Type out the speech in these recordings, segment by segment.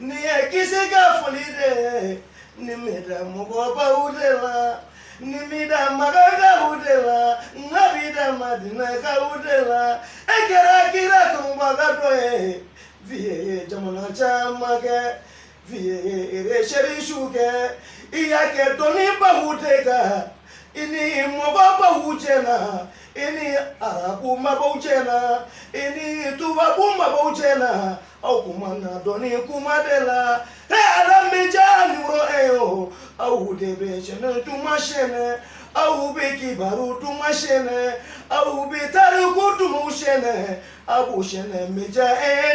Ni ye kisi ka foli de ni mi da mɔgɔbaw de la ni mi da makakaw de la n ka bi da madinakaw de la e kɛra kira kunbaga dɔ ye viye ye jamana caman kɛ viye ye resɛrisiw kɛ i y'a kɛ dɔnnibaw de kan i ni mɔgɔbaw cɛ na i ni arabu maabaw cɛ na i ni tubabu maabaw cɛ na aw kumana dɔnni kuma de la e ala mediya niro e yo aw de bɛ sɛnɛ duman sɛnɛ aw bɛ kibaru duman sɛnɛ aw bɛ tariku duman sɛnɛ aw b'u sɛnɛ mediya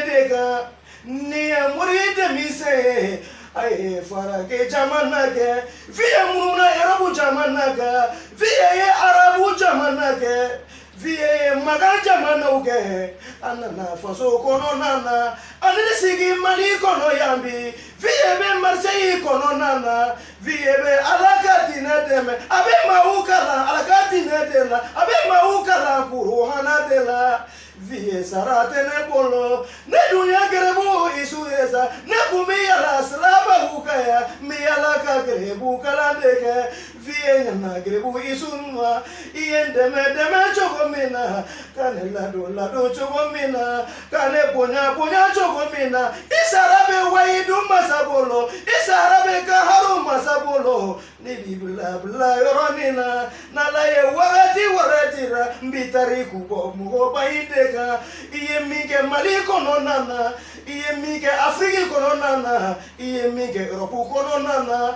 de kan nin ye mori denmisɛn ye a ye faragɛ jamana kɛ viye muruna arabu jamana kan viye ye arabu jamana kɛ. Viye ye makan jamanaw kɛ a nana faso kɔnɔna na a nana i sigi mali kɔnɔ yan bi viye bɛ marisɛyi kɔnɔna na viye bɛ ala ka diinɛ dɛmɛ a bɛ maaw kalan ala ka diinɛ de la a bɛ maaw kalan kuranɛ de la viye sara tɛ ne bolo ne dun ye garibu isu ye sa ne tun bɛ yaala sirabaw kan yan ni yaala ka garibu kalan de kɛ viye na garibu isunwa i ye n dɛmɛ dɛmɛ cogo min na ka ne ladon ladon cogo min na ka ne bonya bonya cogo min na i sara bɛ wayidu masa bolo i sara bɛ kaharu masa bolo ne b'i bila bila yɔrɔ nin na n'ala ye wagati wɛrɛ dira n bi tariku bɔ mɔgɔba i de kan i ye min kɛ mali kɔnɔna na i ye min kɛ afiriki kɔnɔna na i ye min kɛ erɔpu kɔnɔna na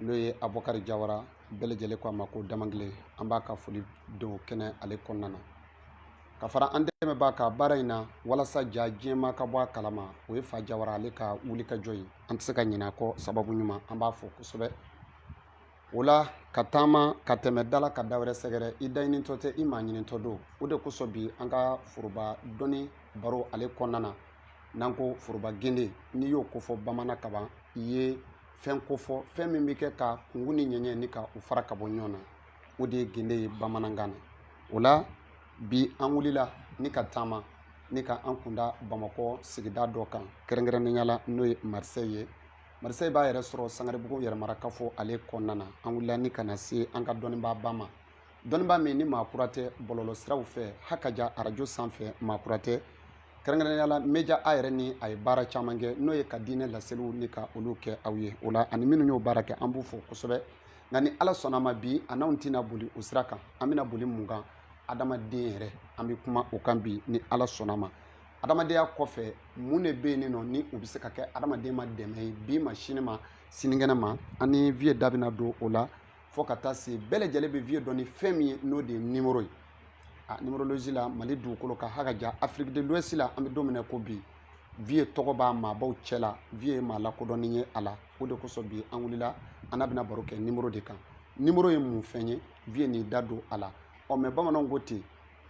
n'o ye abukari jawara bɛɛ lajɛlen ko a ma ko damankile an b'a ka foli don kɛnɛ ale kɔnɔna na ka fara an dɛmɛbaa ka baara in na walasa ja jɛman ka bɔ a kalama o ye fa jawara ale ka wulikajɔ ye an tɛ se ka ɲin'a kɔ sababu ɲuman an b'a fo kosɛbɛ o la ka taama ka tɛmɛ da la ka da wɛrɛ sɛgɛrɛ i daɲinitɔ tɛ i maaɲinitɔ don o de kosɔn bi an ka foroba dɔnni baro ale kɔnɔna na n'an ko foroba gende n'i y'o kofɔ bamanan kaban i ye fɛn kofɔ fɛn min bɛ kɛ ka kungu ni ɲɛɲɛ ni ka u fara ka bɔ ɲɔgɔn na o de ye gende ye bamanankan na o la bi an wulila ni ka taama ni ka an kunda bamakɔ sigida dɔ kan kɛrɛnkɛrɛnnenya la n'o ye marisɛyi ye marisɛyi b'a yɛrɛ sɔrɔ sangaribugu yɛrɛmarakafo ale kɔnɔna na an wulila ni ka na se an ka dɔnnibaa ba ma dɔnnibaa min ni maa kura tɛ bɔlɔlɔ siraw fɛ ha ka ja arajo sanfɛ maa kura tɛ kɛrɛnkɛrɛnnenya la meja a yɛrɛ ni a ye baara caman kɛ n'o ye ka diinɛ laseliw ni ka olu kɛ aw ye o la ani minnu y'o baara kɛ an b'u fo kosɛbɛ nka ni ala sɔnna ma bi a n'anw tɛna boli o sira kan an bɛna boli mun kan adamaden yɛrɛ an bɛ kuma o kan bi ni ala sɔnna ma adamadenya kɔfɛ mun de bɛ yen nɔ ni o bɛ se ka kɛ adamaden ma dɛmɛ ye bi ma sini ma sinikɛnɛ ma an ni viye da bɛna don o la fo ka taa se bɛɛ lajɛlen bɛ viye dɔn ni fɛn min ye n'o de ye nimoro ye a nimorolozi la mali dugukolo kan ha ka ja afiriki de luwɛsi la an bɛ don min na ko bi viye tɔgɔ b'a maabaw cɛ la viye ye maa lakodɔnnen ye a la o de kosɔn bi an wulila an n'a bɛna baro kɛ nimoro de kan nimoro ye mun fɛn ye viye n'i da don a la ɔ mɛ bamananw ko ten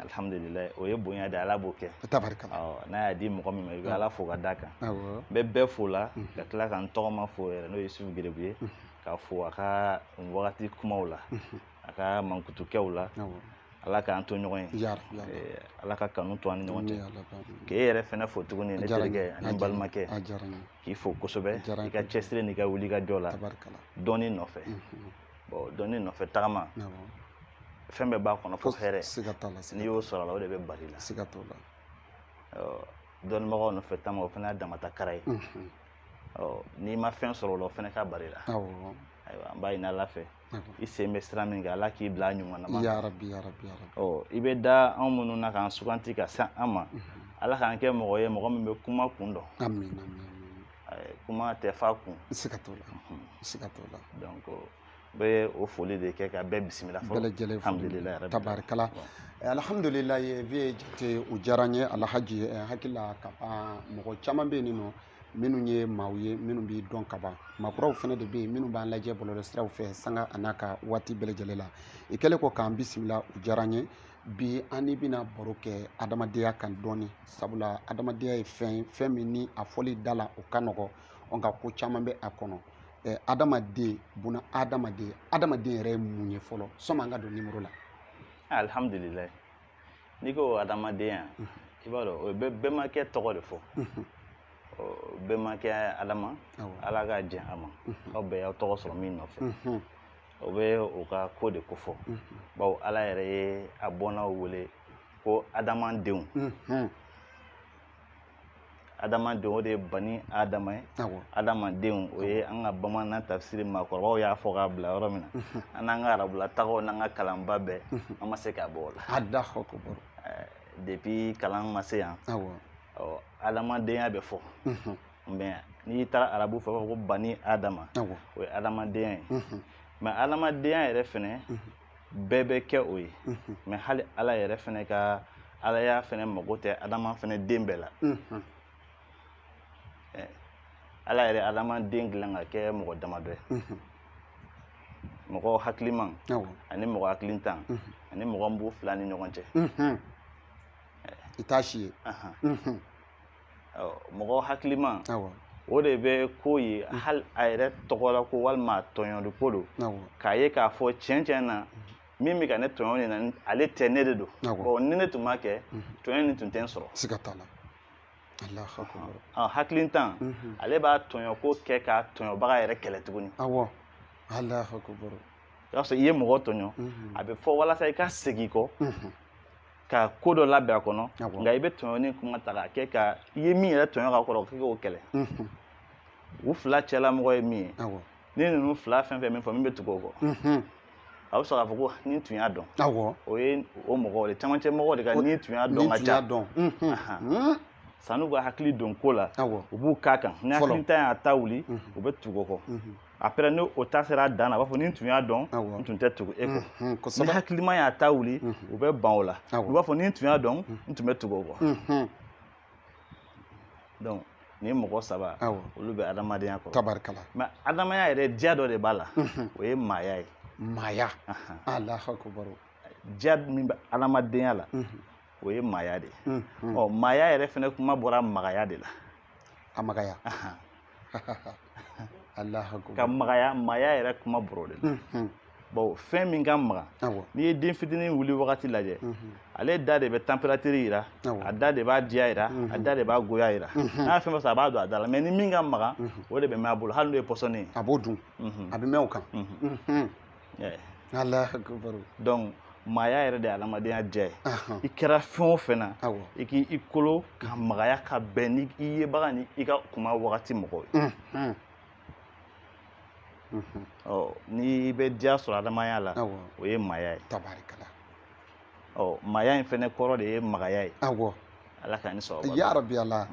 alihamudulila o ye bonya de ala b'o kɛ n'a y'a di mɔgɔ min ma i bɛ ala fo ka d'a kan n bɛ bɛɛ fo la mhm. ka tila ka n tɔgɔma fo yɛrɛ n'o ye yusufu gerebu ye mhm. ka fo a ka wagati kumaw la mhm. a ka mankutukɛw la ala k'an to ɲɔgɔn ye eh, ala ka kanu to an ni ɲɔgɔn cɛ k'e yɛrɛ fɛnɛ fo tuguni ne terikɛ ani balimakɛ k'i fo kosɛbɛ i ka cɛsiri n'i ka wuli ka jɔ la dɔnni nɔfɛ bon dɔnni nɔfɛ tagama fɛn bɛɛ b'a kɔnɔ fo hɛrɛ n'i y'o sɔrɔ a la o de bɛ bali la siga t'o la dɔnnibagaw nɔfɛ tagama o fana y'a damata kara ye n'i ma fɛn sɔrɔ o la o fana ka bali la ayiwa an b'a ɲini ala fɛ i sen bɛ sira min kan ala k'i bila a ɲuman na yarabi yarabi yarabi ɔ i bɛ da anw minnu na k'an suganti ka se an ma ala k'an kɛ mɔgɔ ye mɔgɔ min bɛ kuma kun dɔn kuma tɛ fa kun siga t'o la siga t'o la donc bɛ o foli de kɛ ka bɛɛ bisimila fɔlɔ bɛɛ lajɛlen alhamdulilayi tabarikala alhamdulilayi viye jate o diyara n ye alhaji eh, hakili la ka ban mɔgɔ caman bɛ yen nɔ minnu ye maaw ye minnu b'i dɔn ka ban maa kuraw fana de bɛ yen minnu b'an lajɛ bɔlɔlɔsiraw fɛ sanga an'a ka waati bɛɛ lajɛlen la i kɛlen kɔ k'an bisimila o diyara n ye bi an ni bɛna baro kɛ adamadenya kan dɔɔni sabula adamadenya ye fɛn ye fɛn min ni a fɔli da la o ka nɔgɔ nka ko caman bɛ a kɔnɔ ɛɛ adamaden buna adamaden adamaden yɛrɛ ye mun ye fɔlɔ sɔmi an ka don nimoro la alihamudulilayi n'i ko adamadenya i b'a dɔn o bɛ bɛnbakɛ tɔgɔ de fɔ bɛnbakɛ adama ala ka jɛn a ma aw bɛɛ y'aw tɔgɔ sɔrɔ min nɔfɛ o bɛ o ka ko de kofɔ bawo ala yɛrɛ ye a bɔnnaw wele ko adamadenw adamadenw o de ye bani adama ye adamadenw o ye an ka bamanan tafsiri maakɔrɔbaw y'a fɔ k'a bila yɔrɔ min na an n'an ka arabula tagaw n'an ka kalanba bɛɛ an ma se k'a bɔ o la depuis kalan ma se yan adamadenya bɛ fɔ n'i taara arabu fɛ ko bani adama o ye adamadenya ye mhm. mais adamadenya yɛrɛ fɛnɛ mhm. bɛɛ bɛ kɛ o ye mhm. mais hali ala yɛrɛ fɛnɛ ka alaya fɛnɛ mago tɛ adama fɛnɛ den bɛɛ la ala yɛrɛ adamaden dilan ka kɛ mɔgɔ damadɔ ye mɔgɔ hakiliman ani mɔgɔ hakilintan ani mɔgɔ min b'u fila ni ɲɔgɔn cɛ i t'a si ye mɔgɔ hakiliman o de bɛ ko ye hali a yɛrɛ tɔgɔ la ko walima tɔɲɔli ko don k'a ye k'a fɔ cɛn cɛn na min bɛ ka ne tɔɲɔ nin na ale tɛ ne de don ni ne tun m'a kɛ tɔɲɔ nin tun tɛ n sɔrɔ siga t'a la hakilintan ale b'a tɔɲɔ ko kɛ ka tɔɲɔbaga yɛrɛ kɛlɛ tuguni awɔ i ye mɔgɔ tɔɲɔ a bɛ fɔ walasa i ka segin kɔ ka ko dɔ labɛn a kɔnɔ nka i bɛ tɔɲɔni kuma ta k'a kɛ ka i ye min yɛrɛ tɔɲɔ ka kɔrɔ k'i k'o kɛlɛ u fila cɛla mɔgɔ ye min ye ni ninnu fila fɛn fɛn min fɔ min bɛ tugu o kɔ a bɛ sɔrɔ k'a fɔ ko ni tun y'a dɔn awɔ o ye o mɔgɔ de camancɛ mɔgɔw de ka ni tun y'a dɔn ka ca donc san'u ka hakili don ko la u b'u k'a kan ni hakilintan y'a ta wuli u bɛ tugu o kɔ après ni o ta sera dan na a b'a fɔ ni n tun y'a dɔn n tun tɛ tugu e kɔ ni hakilima y'a ta wuli u bɛ ban o la u b'a fɔ ni n tun y'a dɔn n tun bɛ tugu o kɔ donc nin mɔgɔ saba olu bɛ adamadenya kɔrɔ tabarikala mais adamadenya yɛrɛ diya dɔ de b'a la o ye maaya ye maaya alahu akubar diya min bɛ adamadenya la o ye maaya de ye ɔ maaya yɛrɛ fana kuma bɔra magaya de la a magaya ka magaya maaya yɛrɛ kuma bɔr'o de la bon fɛn min ka maga n'i ye den fitinin wuli wagati lajɛ ale da de bɛ température yira a da de b'a diya yira a da de b'a goya yira n'a fɛn fɛn sɔrɔ a b'a don a da la mais ni min ka maga o de bɛ mɛn a bolo hali n'o ye pɔsɔni ye a b'o dun a bɛ mɛn o kan ala donc maaya yɛrɛ de ye adamadenya diya ye i kɛra fɛn o fɛn na i k'i kolo ka magaya ka bɛn ni i yebaga ni i ka kuma wagati mɔgɔw ye ɔ n'i bɛ diya sɔrɔ adamaya la o ye maaya ye ɔ maaya in fɛnɛ kɔrɔ de ye magaya ye awɔ ala ka ni sababa ya rabi ala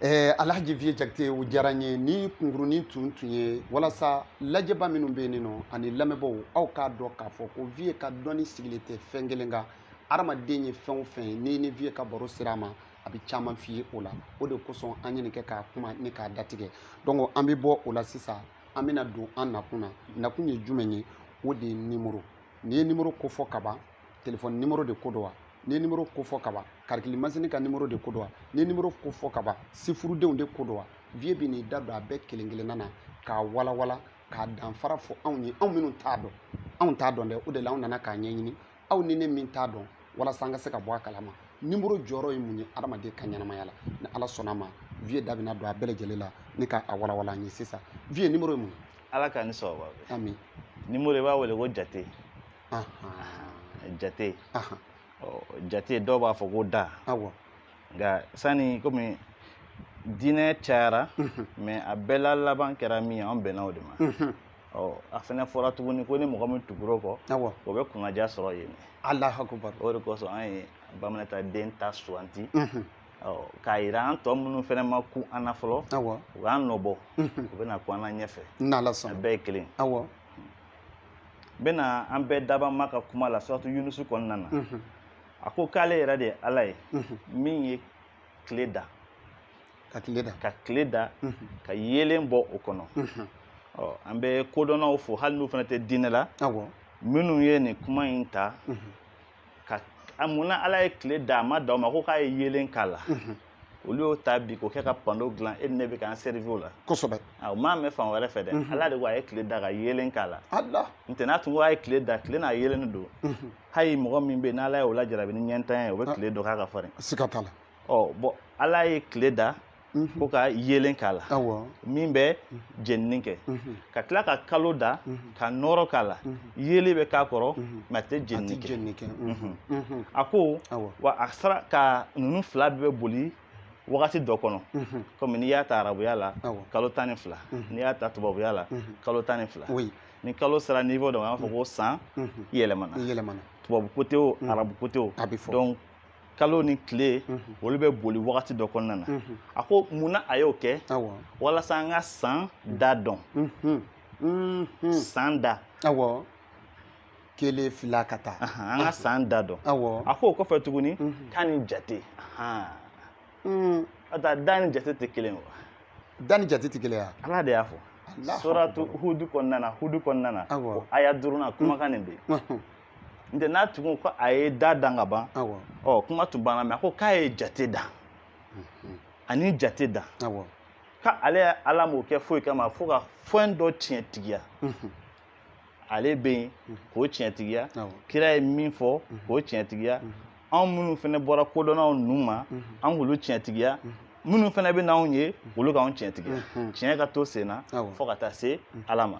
ɛɛ alhaji viye jakite o diyara n ye nin kunkurunin tun tun ye walasa lajɛbaa minnu bɛ yen nɔ ani lamɛnbaaw aw k'a dɔn k'a fɔ ko viye ka dɔnni sigilen tɛ fɛn kelen kan adamaden ye fɛn o fɛn ye n'i ni viye ka baro sera a ma a bɛ caman f'i ye o la o de kosɔn an ye nin kɛ k'a kuma ni k'a datigɛ donc an bɛ bɔ o la sisan an bɛna don an nakun na nakun ye jumɛn ye o de ye nimoro n'i ye nimoro ko fɔ kaban telefɔni nimoro de ko don wa n'i ye nimoro ko fɔ kaban karikili masini ka nimoro de ko don wa n'i ye nimoro ko fɔ kaban sifurudenw de ko don wa viye bɛ n'i da don a bɛɛ kelen kelenna na k'a walawala k'a danfara fɔ anw ye anw minnu t'a dɔn anw t'a dɔn dɛ o de la anw nana k'a ɲɛɲini aw ni ne min t'a dɔn walasa an ka se ka bɔ a kalama nimoro jɔyɔrɔ ye mun ye adamaden ka ɲɛnamaya la ni ala sɔnna ma viye da bɛna don a bɛɛ lajɛlen la ni ka a walawala an ye sisan viye nimoro ye mun ye ala ka ni sababa bɛ nimoro i b'a wele ko jate jate jate dɔw b'a fɔ ko da nka sani kɔmi diinɛ cayara mɛ a bɛɛ la laban kɛra min ye an bɛnna o de ma ɔ a fana fɔra tuguni ko ni mɔgɔ min tugura o kɔ o bɛ kunnadiya sɔrɔ yen alahakubar o de kosɔn an ye ba minata den ta suganti k'a yira an tɔ minnu fana ma kun an na fɔlɔ u k'an nɔbɔ u bɛna kun an na ɲɛfɛ a bɛɛ ye kelen bɛna an bɛɛ dabaa ma ka kuma la suratu yunusu kɔnɔna na a ko k'ale yɛrɛ de ye ala ye min ye tile da ka tile da ka yeelen bɔ o kɔnɔ an bɛ kodɔnnaw fo hali n'u fana tɛ diinɛ la minnu ye nin kuma in ta ka a mun na ala ye tile da a ma dan o ma ko k'a ye yeelen k'a la olu y'o ta bi k'o kɛ ka pando dilan e ni ne bɛ k'an sɛrivi o la kosɛbɛ o m'a mɛn fan wɛrɛ fɛ dɛ ala de ko a ye tile da ka yeelen k'a la n tɛ n'a tun ko a ye tile da tile n'a yeelen don hali mɔgɔ min bɛ yen n'ala ye o lajarabi ni ɲɛntanya ye o bɛ tile dɔn k'a ka farin siga t'a la ɔ bɔn ala ye tile da mhm. ko ka yeelen k'a la min bɛ mhm. jenini kɛ mhm. ka tila ka kalo da ka nɔrɔ k'a la yeli bɛ k'a kɔrɔ mɛ a tɛ jenini kɛ a ko wa a sera ka ninnu fila bɛɛ boli wagati dɔ kɔnɔ kɔmi n'i y'a ta arabuya la kalo tan ni fila n'i y'a ta tubabuya la kalo tan ni fila ni kalo sera niveau dɔ ma an b'a fɔ ko san yɛlɛmana tubabu kote o arabu kote o donc kalo ni tile olu bɛ boli wagati dɔ kɔnɔna na a ko mun na a y'o kɛ walasa an ka san da dɔn san da kelen fila ka taa an ka san da dɔn a ko o kɔfɛ tuguni k'ani jate da ni jate tɛ kelen wa da ni jate tɛ kelen ye ala de y'a fɔ suratu hudu kɔnɔna na hudu kɔnɔna na o aya duurunan kumakan nin bɛ yen n tɛ n'a tugun ko a ye da dan ka ban ɔ kuma tun banna mɛ a ko k'a ye jate dan mhm. ani jate dan ka ale ye ala m'o kɛ foyi kama fo ka fɛn dɔ tiɲɛtigiya mhm. ale bɛ yen mhm. k'o tiɲɛtigiya kira ye min fɔ k'o tiɲɛtigiya anw minnu fana bɔra kodɔnnaw ninnu ma an k'olu tiɲɛtigiya minnu fana bɛ n'anw ye olu k'anw tiɲɛtigiya tiɲɛ ka to sen na fo ka taa se ala ma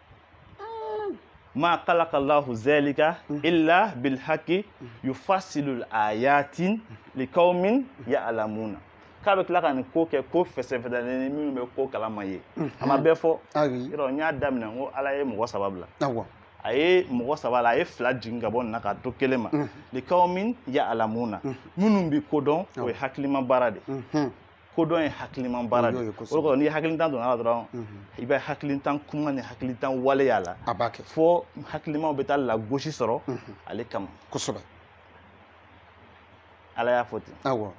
ma kalaka lahu zalika illa bil haqi yufasilul ayatin liqaumin ya'lamuna k'a bɛ tila ka nin ko kɛ ko fɛsɛfɛsɛlen ni minnu bɛ ko kalama ye a ma bɛɛ fɔ yɔrɔ n y'a daminɛ n ko ala ye mɔgɔ saba bila a ye mɔgɔ saba la a ye fila jigin ka bɔ nin na k'a to kelen ma liqaumin ya'lamuna minnu bɛ ko dɔn o ye hakilima baara de kodɔn ye hakilima baara de ye o kɔrɔ ni hakilitan donna a la dɔrɔn i bɛ hakilitan kuma ni hakilitan wale y'a la a b'a kɛ fo hakilimaw bɛ taa lagosi sɔrɔ ale kama kosɛbɛ ala y'a fɔ ten awɔ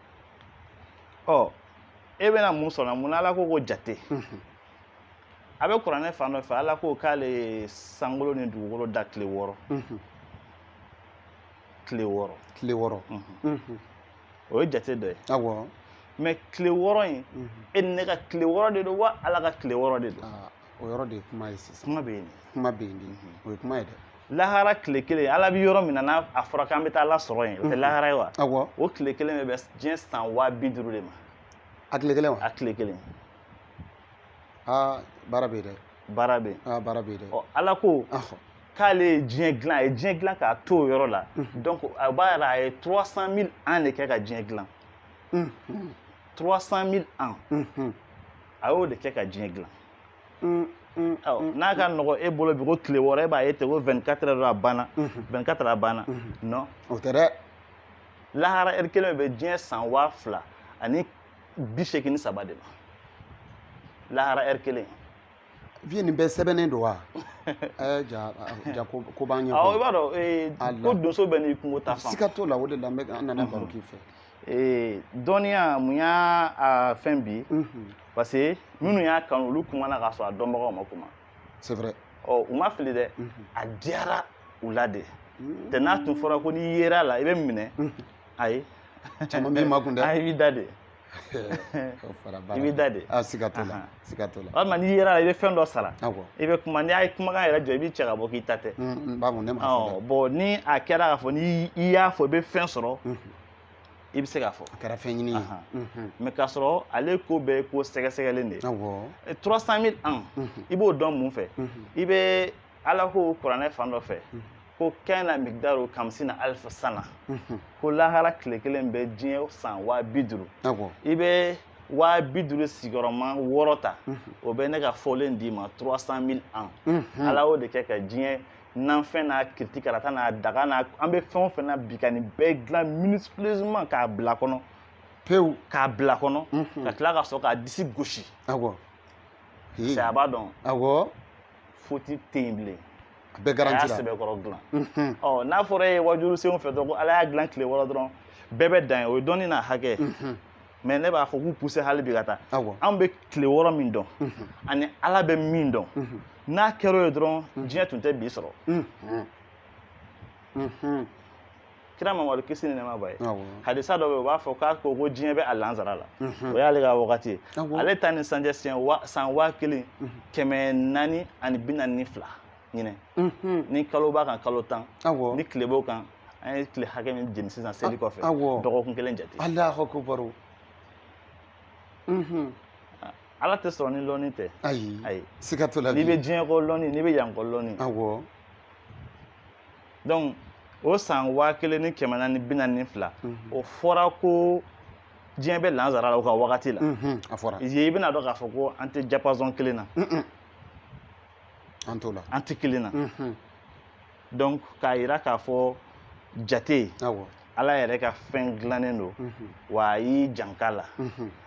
ɔ e bɛna mun sɔrɔ mun na ala ko ko jate a bɛ kuranɛ fan dɔ fɛ ala ko k'ale ye sankolo ni dugukolo da tile wɔɔrɔ tile wɔɔrɔ tile wɔɔrɔ o ye jate dɔ ye awɔ mais tile wɔɔrɔ in mhm. e ni ne ka tile wɔɔrɔ de don wa ala ka tile wɔɔrɔ de don ah, o yɔrɔ de ye kuma ye sisan kuma bɛ yen kuma bɛ yen mhm. o ye kuma ye dɛ lahara tile kelen ala bɛ yɔrɔ min na n'a fɔra k'an bɛ taa ala sɔrɔ yen o tɛ mhm. lahara ye wa awɔ o tile kelen bɛ bɛn diɲɛ san waa bi duuru de ma a tile kelen wa a tile kelen aa ah, baara bɛ yen dɛ baara bɛ yen aa ah, baara bɛ yen dɛ ɔ ala ko k'ale ye diɲɛ dilan a ye diɲɛ dilan k'a to o yɔrɔ la donc o b'a yira a ye 300 000 ans de kɛ ka diɲɛ dilan 300 000 ans a y'o de kɛ ka diɲɛ dilan n'a ka nɔgɔ e bolo bi ko tile wɔɔrɔ e b'a ye ten ko 24 heures a banna 24 heures a banna non o tɛ dɛ lahara heure kelen bɛ diɲɛ san waa fila ani bi seegin ni saba de ma lahara heure kelen vie nin bɛɛ sɛbɛnnen don wa ɛɛ ja ja ko ko b'an ɲɛ awɔ i b'a dɔn ee ko donso bɛɛ n'i kungo ta fan siga t'o la o de la an bɛ an nana baro k'i fɛ ee dɔnniya mun y'a fɛn bi parce que minnu y'a kanu olu kumana k'a sɔrɔ a dɔnbagaw ma kuma c'est vrai ɔ u ma fili dɛ a diyara u la de tɛ n'a tun fɔra ko n'i yera la i bɛ minɛ ayi caman b'i makun dɛ ayi i b'i da de i b'i da de siga t'o la siga t'o la walima n'i yera la i bɛ fɛn dɔ sara i bɛ kuma n'i y'a ye kumakan yɛrɛ jɔ i b'i cɛ ka bɔ k'i ta tɛ bɔn ni a kɛra k'a fɔ ni i y'a fɔ i bɛ fɛn sɔrɔ i bɛ se k'a fɔ a kɛra fɛn ɲini mais k'a sɔrɔ ale ko bɛɛ ko sɛgɛsɛgɛlen de ye 300 000 ans i b'o dɔn mun fɛ i bɛ ala ko kuranɛ fan dɔ fɛ ko kana migdaru kamsina alfa sana ko lahara tile kelen bɛ diɲɛ san waa bi duuru i bɛ waa bi duuru sigiyɔrɔma wɔɔrɔ ta o bɛ ne ka fɔlen d'i ma 300 mille ans ala y'o de kɛ ka diɲɛ nanfɛn n'a kiriti karata n'a daga n'an bɛ fɛn o fɛn na bi ka nin bɛɛ dilan minutieusement k'a bila kɔnɔ pewu k'a bila kɔnɔ ka tila ka sɔrɔ k'a disi gosi c'est a b'a dɔn awɔ foti tɛ yen bilen a bɛɛ garanti ala y'a sɛbɛkɔrɔ dilan ɔ n'a fɔra e ye wajuli senw fɛ dɔrɔn ko ala y'a dilan tile wɔɔrɔ dɔrɔn bɛɛ bɛ dan yen o ye dɔnni n'a hakɛ mɛ ne b'a fɔ k'u puse hali bi ka taa anw bɛ tile wɔɔrɔ min dɔn ani ala bɛ min dɔn n'a kɛra o ye dɔrɔn diɲɛ tun tɛ bi sɔrɔ kira mamadu kisi ni nɛma b'a ye hadisa dɔ bɛ u b'a fɔ k'a ko ko diɲɛ bɛ a lansara la mhm. o y'ale ka wagati ye ale ta ni sisan cɛ siɲɛ san waa kelen mhm. kɛmɛ naani ani bi naani ni fila ɲinan mhm. ni kalo b'a kan kalo tan ni tile b'o kan an ye tile hakɛ min jeni sisan seli kɔfɛ dɔgɔkun kelen jate alahu akubaru ala tɛ sɔrɔ ni lɔnni tɛ ayi ayi siga t'o la n'i bɛ diɲɛ kɔ lɔnni n'i bɛ yan kɔ lɔnni awɔ dɔnku o san waa kelen ni kɛmɛ naani bi naani ni fila o fɔra ko diɲɛ bɛ lansara la o ka wagati la a fɔra i bɛna dɔn k'a fɔ ko an tɛ diapason kelen na an t'o la an tɛ kelen na dɔnku k'a yira k'a fɔ jate ala yɛrɛ ka fɛn dilannen don wa a y'i janka la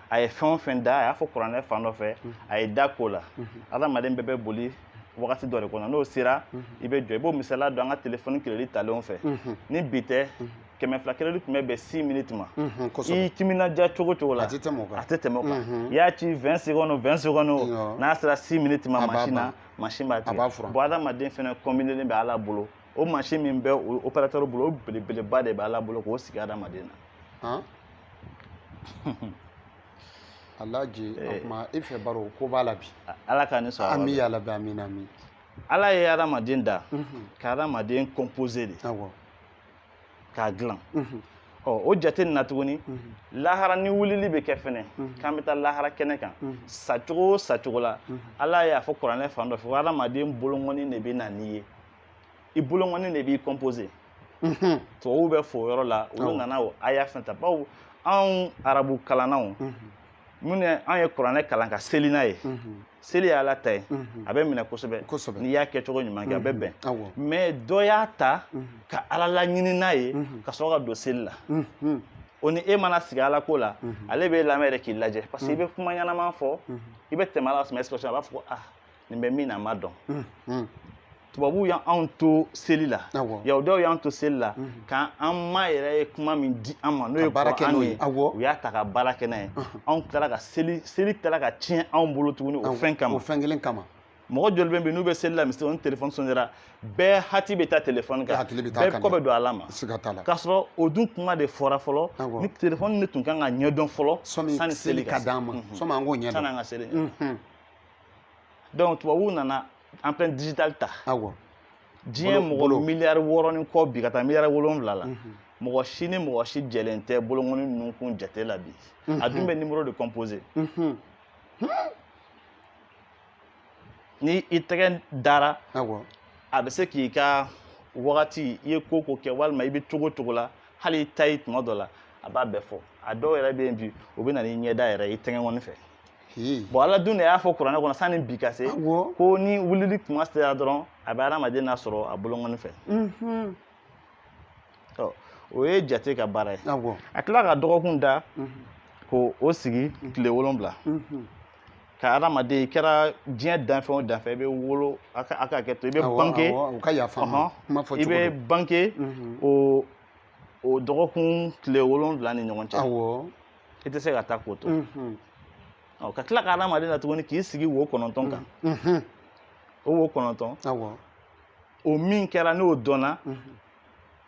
a ye fɛn o fɛn da a y'a fɔ kuranɛ fan dɔ fɛ a ye da ko la adamaden bɛɛ bɛ boli wagati dɔ de kɔnɔ n'o sera i bɛ jɔ i b'o misaliya dɔn an ka telefɔni keredi talenw fɛ ni bi tɛ kɛmɛ fila keredi tun bɛ bɛn six minutes ma i timinadiya cogo o cogo la a tɛ tɛmɛ o kan a tɛ tɛmɛ o kan i y'a ci vingt secondes o vingt secondes o n'a sera six minutes ma mansin na mansin b'a tigɛ bon adamaden fɛnɛ kɔnbinelen bɛ ala bolo o mansin min bɛ o operatɛri bolo o belebeleba de bɛ ala bolo k'o sigi adamaden na alaji o eh. tuma e fɛ baro ko b'a la bi ala ka ni sɔrɔ ami yarabi amina ami ala ye adamaden da mhm. ka adamaden compose de k'a dilan mhm. ɔ o jate nin na tuguni mhm. lahara ni wulili bɛ kɛ fɛnɛ k'an bɛ taa lahara kɛnɛ kan sacogo o sacogo la ala y'a fɔ kuranɛ fan dɔ fɛ ko adamaden bolonkɔni de bɛ na n'i ye i bolonkɔni de b'i kɔnpose mhm. tubabuw bɛ fo o yɔrɔ la olu nana o aya fɛnɛ ta bawo anw arabu kalannanw mhm. minnu anw ye kuranɛ kalan ka seli n'a ye mhm. seli ye ala ta ye a bɛ minɛ kosɛbɛ n'i y'a kɛcogo ɲuman kɛ a bɛ bɛn mɛ dɔ y'a ta ka ala laɲini n'a ye ka sɔrɔ ka don seli la o ni e mana sigi ala ko la ale b'e lamɛn yɛrɛ k'i lajɛ parce que i bɛ kuma ɲɛnama fɔ i bɛ tɛmɛ ala suma a b'a fɔ ko ah nin bɛ min na a ma dɔn mm-hmm. tubabuw y'an to seli la yahudaw y'an to seli la mm-hmm. ka an ma yɛrɛ ye kuma min di an ma n'o ye kuran ye u y'a ta ka baara kɛ n'a ye mm-hmm. anw tilala ka seli seli tilala ka tiɲɛ anw bolo tuguni o fɛn kama o fɛn kelen kama mɔgɔ joli bɛ yen n'u bɛ seli la misiri o ni telefɔni sonera bɛɛ hakili bɛ taa telefɔni kan bɛɛ kɔ bɛ don ala ma k'a sɔrɔ o dun kuma de fɔra fɔlɔ ni telefɔni de tun kan ka ɲɛdɔn fɔlɔ sani seli ka d'an ma sɔmi an k'o ɲɛdɔn sani an ka seli donc tubabuw nana empreinte digitale ta awɔ diɲɛ mɔgɔ miliyari wɔɔrɔ ni kɔ bi ka taa miliyari wolonwula la mhm. mɔgɔ si ni mɔgɔ si jɛlen tɛ bolokɔni nunkun jate la bi a dun bɛ numéro de composer ni i tɛgɛ dara a bɛ se k'i ka wagati i ye ko o ko kɛ walima i bɛ cogo o cogo la hali i ta ye tuma dɔ la a b'a bɛɛ fɔ a dɔw yɛrɛ bɛ yen bi o bɛ na n'i ɲɛda yɛrɛ ye i tɛgɛkɔni fɛ bon ala dun de y'a fɔ kuranɛ kɔnɔ sanni bi ka se ko ni wulili kuma sera dɔrɔn a bɛ adamaden nasɔrɔ a bolokɔni fɛ mhm. o ye jate ka baara ye a tila ka dɔgɔkun da mhm. k'o sigi mhm. tile wolonwula kan adamaden i kɛra diɲɛ danfɛn o danfɛn i bɛ wolo a ka hakɛ to i bɛ bange i bɛ bange o dɔgɔkun tile wolonwula ni ɲɔgɔn cɛ i tɛ se ka taa k'o to ɔ ka tila ka adamaden da tuguni k'i sigi wo kɔnɔntɔn kan o wo kɔnɔntɔn o min kɛra n'o dɔnna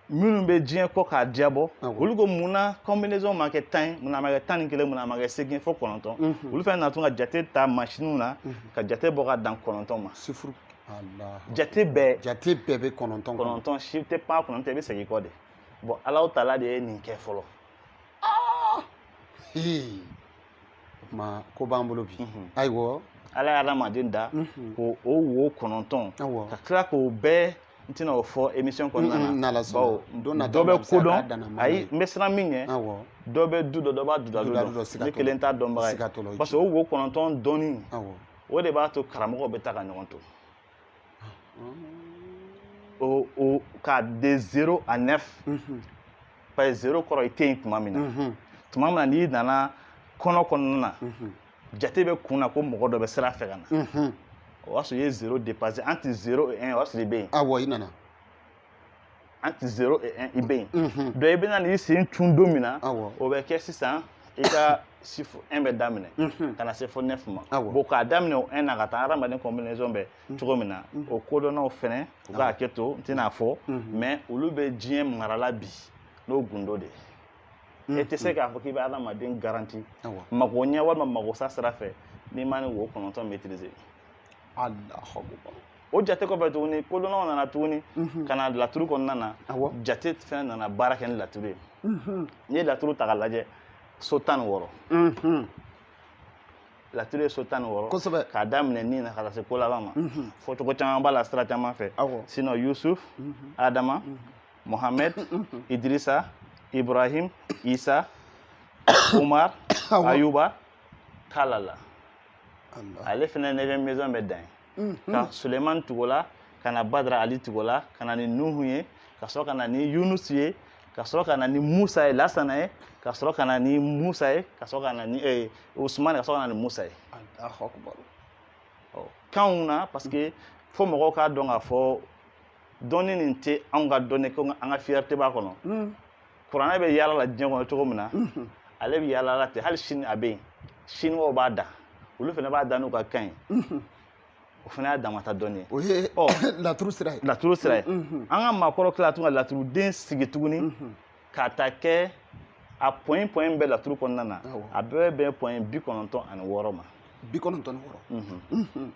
minnu bɛ diɲɛ kɔ k'a diyabɔ olu ko mun na combinaison ma kɛ tan ye mun na a ma kɛ tan ni kelen mun na a ma kɛ seegin fo kɔnɔntɔn olu fɛnɛ na tun ka jate ta masiniw na ka jate bɔ ka dan kɔnɔntɔn ma chiffre jate bɛɛ jate bɛɛ bɛ kɔnɔntɔn kɔnɔntɔn si tɛ pan kɔnɔntɔn i bɛ segin kɔ de bon Allahu taala de ye nin kɛ fɔlɔ Ee o tuma ko b'an bolo bi mhm. ayiwa ala ye adamaden da mhm. ko o wo kɔnɔntɔn ka tila k'o bɛɛ n tɛna o fɔ émission kɔnɔna na bawo dɔ bɛ ko dɔn ayi n bɛ siran min ɲɛ dɔ bɛ du dɔ dɔ b'a dudadu dɔn ne kelen t'a dɔnbaga ye parce que o wo kɔnɔntɔn dɔnni o de b'a to karamɔgɔw bɛ taa ka ɲɔgɔn to O o k'a de zéro à neuf parce que zéro kɔrɔ i tɛ yen tuma min na tuma min na n'i nana kɔnɔ kɔnɔna na jate bɛ kun na ko mɔgɔ dɔ bɛ sira fɛ ka na o y'a sɔrɔ i ye zéro dépasser entre zéro et un o y'a sɔrɔ i bɛ yen a wa i nana entre zéro et un i bɛ yen mhm. donc i bɛna n'i sen cun don min na o bɛ kɛ sisan i ka chiffre un bɛ daminɛ mhm. ka na se fo neuf ma bon k'a daminɛ o un na ka taa hadamaden combinaison bɛ mhm. cogo min na o kodɔnnaw fɛnɛ u ka hakɛ to n tɛn'a fɔ mais olu bɛ diɲɛ marala bi n'o gundo de ye e tɛ se k'a fɔ k'i bɛ hadamaden garanti mago ɲɛ walima mago sa sira fɛ n'i ma nin wo kɔnɔntɔn maîtriser Allahu akbar o jate kɔfɛ tuguni kodɔnnaw nana tuguni mhm. ka na laturu kɔnɔna na jate fɛnɛ nana baara kɛ ni laturu ye mhm. n'i ye laturu ta ka lajɛ so tan ni wɔɔrɔ mhm. laturu ye so tan ni wɔɔrɔ kosɛbɛ k'a daminɛ ni na ka taa se ko laban ma fɔcogo caman b'a la sira caman fɛ sinon yusuf adama mohamɛd idirisa ibrahim isa umar ayuba kalala ale fɛnɛ neuvième maison bɛ dan yen ka suleman tugu o la ka na badara ali tugu o la ka na ni nuhu ye ka sɔrɔ ka na ni yunusu ye ka sɔrɔ ka na ni musa ye lasana ye ka sɔrɔ ka na ni musa ye ka sɔrɔ ka na ni eh, usman ka sɔrɔ ka na ni musa ye kanw na parce que fo mɔgɔw k'a dɔn k'a fɔ dɔnni nin tɛ anw ka dɔnni ko an ka fierté b'a kɔnɔ kuranɛ bɛ yaala la diɲɛ kɔnɔ cogo min na ale bɛ yaala la ten hali sini a bɛ yen siniwaw b'a da olu fana b'a da n'u ka kan ye o fana y'a damata dɔnni ye o ye laturu sira ye laturu sira ye an ka maakɔrɔ tila tun ka laturuden sigi tuguni k'a ta kɛ a point point bɛɛ laturu kɔnɔna na a bɛɛ bɛ bɛn point bi kɔnɔntɔn ani wɔɔrɔ ma bi kɔnɔntɔn ni wɔɔrɔ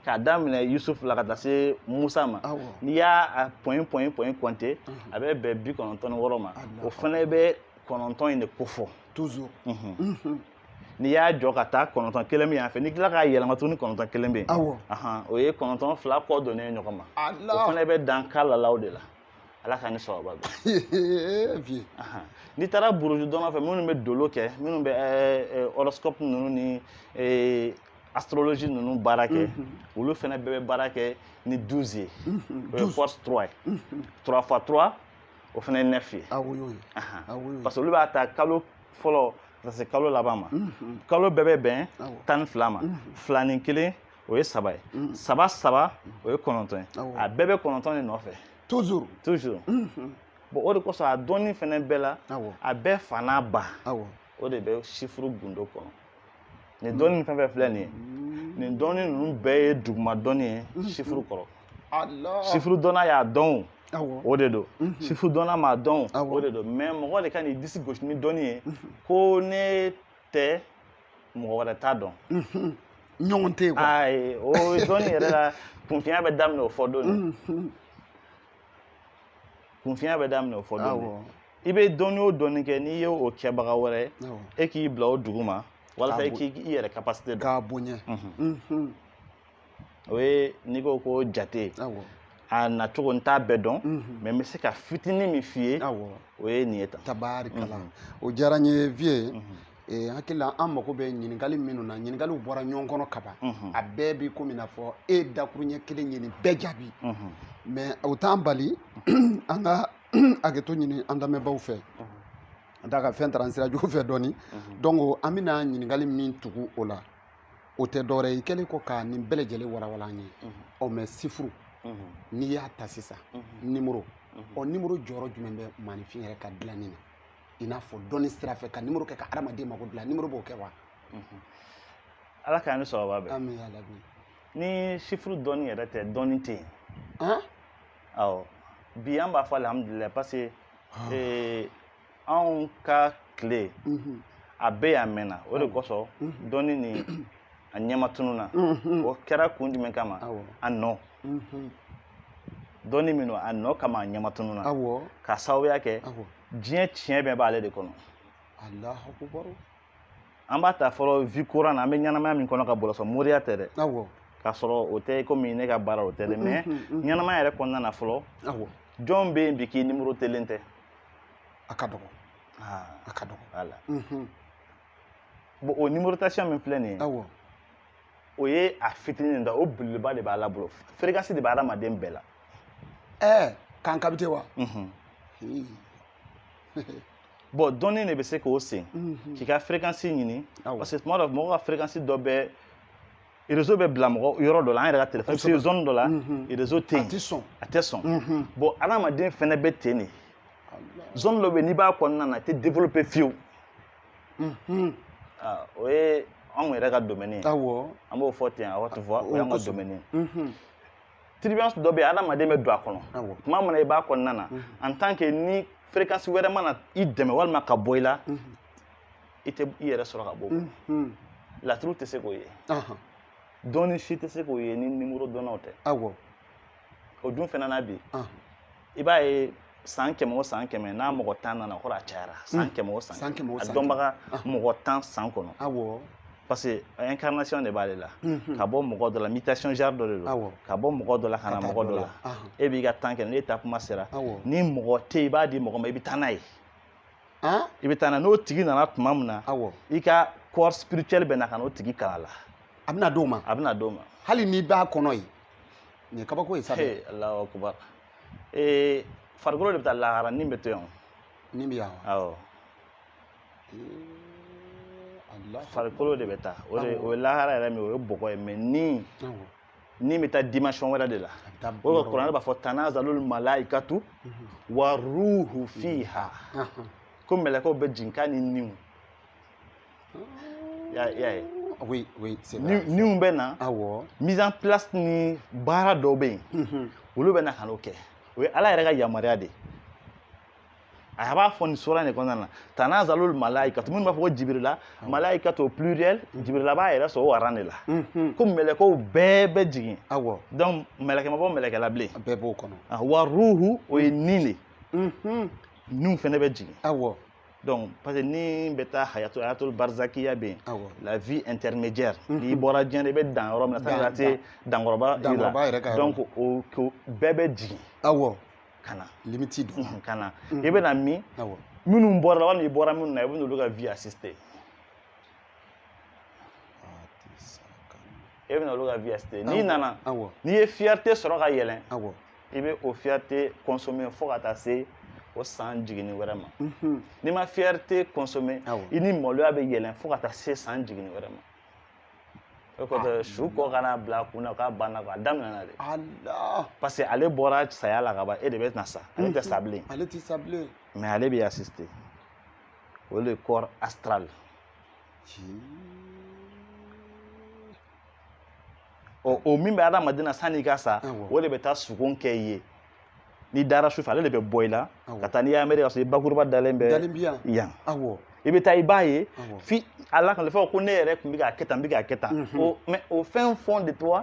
k'a daminɛ Yusuf la ka taa se Musa ma n'i y'a point point point compter a bɛ bɛn bi kɔnɔntɔn ni wɔɔrɔ ma o fana bɛ kɔnɔntɔn in de kofɔ toujours n'i y'a jɔ ka taa kɔnɔntɔn kelen bɛ yan fɛ n'i tila k'a yɛlɛma tuguni kɔnɔntɔn kelen bɛ yen o ye kɔnɔntɔn fila kɔ donnen ye ɲɔgɔn ma o fana bɛ dan kalalaw de la ala k'an ni sababu bɛn n'i taara buruju dɔnna fɛ minnu bɛ dolo kɛ minnu bɛ horoscope ninnu ni astrologie ninnu baara kɛ mhm. olu fana bɛɛ bɛ baara kɛ ni 12 ye mhm. o ye force 3 ye 3 mhm. fois 3 o fana ye 9 ye ah ah parce que olu b'a ta kalo fɔlɔ ka se kalo laban ma kalo bɛɛ bɛ bɛn ah tan ni fila ma fila ni kelen o ye saba ye saba saba o ye kɔnɔntɔn ye a bɛɛ bɛ kɔnɔntɔn de nɔfɛ toujours toujours bon o de kosɔn a dɔnni fana bɛɛ la a bɛɛ fa n'a ba o de bɛ sifuru gundo kɔnɔ nin dɔnni fɛn fɛn filɛ nin ye nin dɔnni ninnu bɛɛ ye duguma dɔnni ye sifuru kɔrɔ sifuru dɔnna y'a dɔn o de don sifuru dɔnna m'a dɔn o de don mais mɔgɔ de kan'i disi gosi ni dɔnni ye ko ne tɛ mɔgɔ wɛrɛ t'a dɔn ɲɔgɔn tɛ yen quoi ayi o dɔnni yɛrɛ la kunfinya bɛ daminɛ o fɔ don kunfinya bɛ daminɛ o fɔ don i bɛ dɔnni o dɔnni kɛ n'i ye o kɛbaga wɛrɛ ye e k'i bila o duguma walasa i k'i yɛrɛ kapasite dɔn k'a bonya o ye n'i ko ko jate a na cogo n t'a bɛɛ dɔn mɛ n bɛ se ka fitinin min f'i ye o ye nin ye tan tabarikala o diyara n ye viye Eh, hakili la an mago bɛ ɲininkali minnu na ɲininkaliw bɔra ɲɔgɔn kɔnɔ kaban mhm. a bɛɛ bi komi n'a fɔ e dakuruɲɛ kelen ye nin bɛɛ jaabi mɛ mhm. o t'an bali an ka hakɛto ɲini an lamɛnbaaw fɛ a da ka fɛn taara sira jugu fɛ dɔɔni donc an bɛna ɲininkali min tugu o la o tɛ dɔwɛrɛ ye i kɛlen kɔ ka nin bɛɛ lajɛlen walawala an ye ɔ mɛ sifuru n'i y'a ta sisan nimoro ɔ nimoro jɔyɔrɔ jumɛn bɛ maaninfin yɛrɛ ka dilanni na i n'a fɔ dɔnni sira fɛ ka nimoro kɛ ka adamaden mago dilan nimoro b'o kɛ wa ala k'an ni sababa bɛn amin ya rabi ni sifuru dɔnni yɛrɛ tɛ dɔnni tɛ yen awɔ bi an b'a fɔ alihamudulilayi parce que ah. eh, anw ka tile mhm. a bɛ yan mɛnna o de ah. kosɔn mhm. dɔnni nin a ɲɛma tununna mhm. o kɛra kun jumɛn kama a nɔ dɔnni min don a nɔ kama a ɲɛma tununna ka sababuya kɛ diɲɛ tiɲɛ bɛɛ b'ale de kɔnɔ an b'a ta fɔlɔ vie courante na an bɛ ɲɛnamaya min kɔnɔ ka bɔlɔsɔ moriya tɛ dɛ k'a sɔrɔ o tɛ komi ne ka baara o tɛ dɛ mɛ ɲɛnamaya yɛrɛ kɔnɔna na fɔlɔ jɔn bɛ yen bi k'i nimorotelen tɛ a ka dɔgɔ a ka dɔgɔ voilà bon o numérotation min filɛ nin ye o ye a fitinin de o belebeleba de b'ala bolo fréquence de bɛ adamaden bɛɛ la ɛɛ k'an capter wa bɔn dɔnni de bɛ se k'o sen mhm. k'i ka fréquence ɲini parce que tuma dɔ mɔgɔ ka fréquence dɔ bɛ réseau bɛ bila mɔgɔ yɔrɔ dɔ la an yɛrɛ ka téléphone bɛ zone dɔ la mhm. réseau tɛ yen a tɛ sɔn a tɛ sɔn mhm. bɔn adamaden fɛnɛ bɛ ten de zone dɔ bɛ n'i b'a kɔnɔna na i tɛ développer fiyewu ah, o ye anw yɛrɛ ka domaine ye awɔ an b'o fɔ ten awɔ tu vois o y'an ka domaine ye. turbulence dɔ bɛ yen adamaden bɛ don a kɔnɔ awɔ tuma min na i b'a kɔnɔna na Mhm. en tant que ni fréquence wɛrɛ ma na i dɛmɛ walima k'a bɔ i la Mhm. i tɛ i yɛrɛ sɔrɔ ka bɔ o kɔnɔ. Mhm. laturu tɛ se k'o ye Ahan. dɔnni si tɛ se k'o ye ni nimoro dɔnnaw tɛ awɔ o dun fana na bi Ahan. i b'a ye san kɛmɛ o san kɛmɛ n'a mɔgɔ tan nana o kɔrɔ a cayara san kɛmɛ o san kɛmɛ a dɔnbaga mɔgɔ tan san kɔnɔ parce que incarnation de b'ale la ka bɔ mɔgɔ dɔ la mutation genre dɔ de don ka bɔ mɔgɔ dɔ la ka na mɔgɔ dɔ la e b'i ka temps kɛ n'e taa kuma sera ni mɔgɔ tɛ i b'a di mɔgɔ ma i bɛ taa n'a ye i bɛ taa n'a n'o tigi nana tuma min na i ka corps spirituel bɛ na ka n'o tigi kalan a la a bɛna d'o ma a bɛna d'o ma hali n'i b'a kɔnɔ yen nin ye kabako ye sa dɛ He, Alahu akubar ee farikolo de bɛ taa lahara ni bɛ to yan ni bɛ yan wa awɔ Alahu farikolo de bɛ taa o de Awɔ. o ye lahara yɛrɛ min ye o ye bɔgɔ ye mais ni Awɔ. ni bɛ taa dimension wɛrɛ de la A bɛ taa o yɔrɔ de kuranɛ b'a fɔ tanazalul malaikatu wa ruhu fiha Ahan. ko mɛlɛkɛw bɛ jigin k'a ni niw y'a ye oui oui c'est vrai niw bɛ na awɔ mise en place ni baara dɔw bɛ yen olu bɛ na ka n'o kɛ o ye ala yɛrɛ ka yamaruya de ye a b'a fɔ nin sura nin kɔnɔna na tanazalul malaika minnu b'a fɔ ko jibirila malaikatu pluriel jibirila b'a yɛrɛ sɔrɔ o rang de la ko mɛlɛkɛw bɛɛ bɛ jigin awɔ donc mɛlɛkɛ ma bɔ mɛlɛkɛ la bilen a bɛɛ b'o kɔnɔ wa ruhu o ye ni de ye niw fɛnɛ bɛ jigin awɔ donc parce que ni bɛ taa hayatu hayatul barizakiya bɛ yen awɔ la vie intermédiaire Mhm. n'i bɔra diɲɛ na i bɛ dan yɔrɔ min na Dan- sani ka se dankɔrɔba dankɔrɔba yɛrɛ ka yɔrɔ donc o ko bɛɛ bɛ jigin awɔ ka na limiti don Mhm, ka na Mhm. i bɛ na min awɔ minnu bɔra i la walima i bɔra minnu na i bɛ n'olu ka vie assister i bɛ n'olu ka vie assister n'i nana awɔ n'i ye fierté sɔrɔ ka yɛlɛn awɔ i bɛ o fierté consommer fo ka taa se o san jiginni wɛrɛ ma mhm. n'i ma fierté consommer i ni maloya bɛ yɛlɛn fo ka taa se san jiginni wɛrɛ ma o kɔfɛ su ko kana bila kun na k'a banna a daminɛna de parce que ale bɔra saya la ka ban e de bɛ na sa ale tɛ sa bilen ale tɛ sa bilen mais ale bɛ assister o le corps astral ɔ o min bɛ adamaden na sanni i ka sa o de bɛ taa sugon kɛ i ye n'i dara su fɛ ale de bɛ bɔ i la ka taa n'i ye Amérique ka sɔrɔ i bakuruba dalen bɛ yan i bɛ taa i b'a ye f'i b'a lakali fɔ ko ne yɛrɛ tun bɛ k'a kɛ tan n bɛ k'a kɛ tan mais au fin fond de toi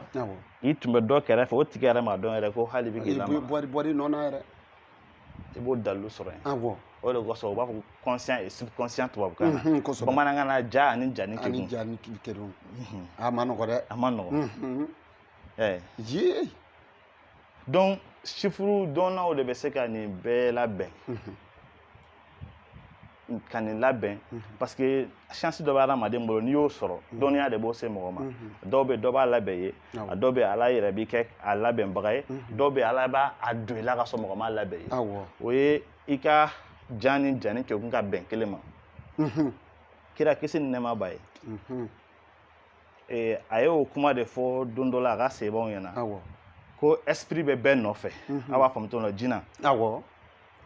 i tun bɛ dɔ kɛrɛfɛ o tigi yɛrɛ m'a dɔn yɛrɛ ko hali i bɛ k'i lamaga i b'o dalilu sɔrɔ yen awɔ o de kosɔn u b'a fɔ ko conscient et subconscient tubabukan na Mhm, kosɛbɛ bamanankan na ja ani jani ani kekun ja ni k'i kɛ don Mhm. a man nɔgɔ dɛ a man nɔgɔn Mhm. Eh, ye donc sifuru dɔnnaw de bɛ se ka nin bɛɛ labɛn Mhm. ka nin labɛn mhm. parce que chance dɔ bɛ adamaden bolo n'i y'o sɔrɔ mhm. dɔnniya de b'o se mɔgɔ ma mhm. dɔw bɛ dɔ b'a labɛn i ye a dɔw bɛ ala yɛrɛ b'i kɛ a labɛnbaga ye dɔw bɛ ala b'a don i la ka sɔrɔ mɔgɔ m'a labɛn i ye o ye i ka ja ni jani kɛkun ka bɛn kelen ma kira kisi ni nɛɛma b'a ye eh, a ye o kuma de fɔ don dɔ la a ka sahabaw ɲɛna ko esprit bɛ bɛɛ nɔfɛ aw b'a faamu cogo min na jina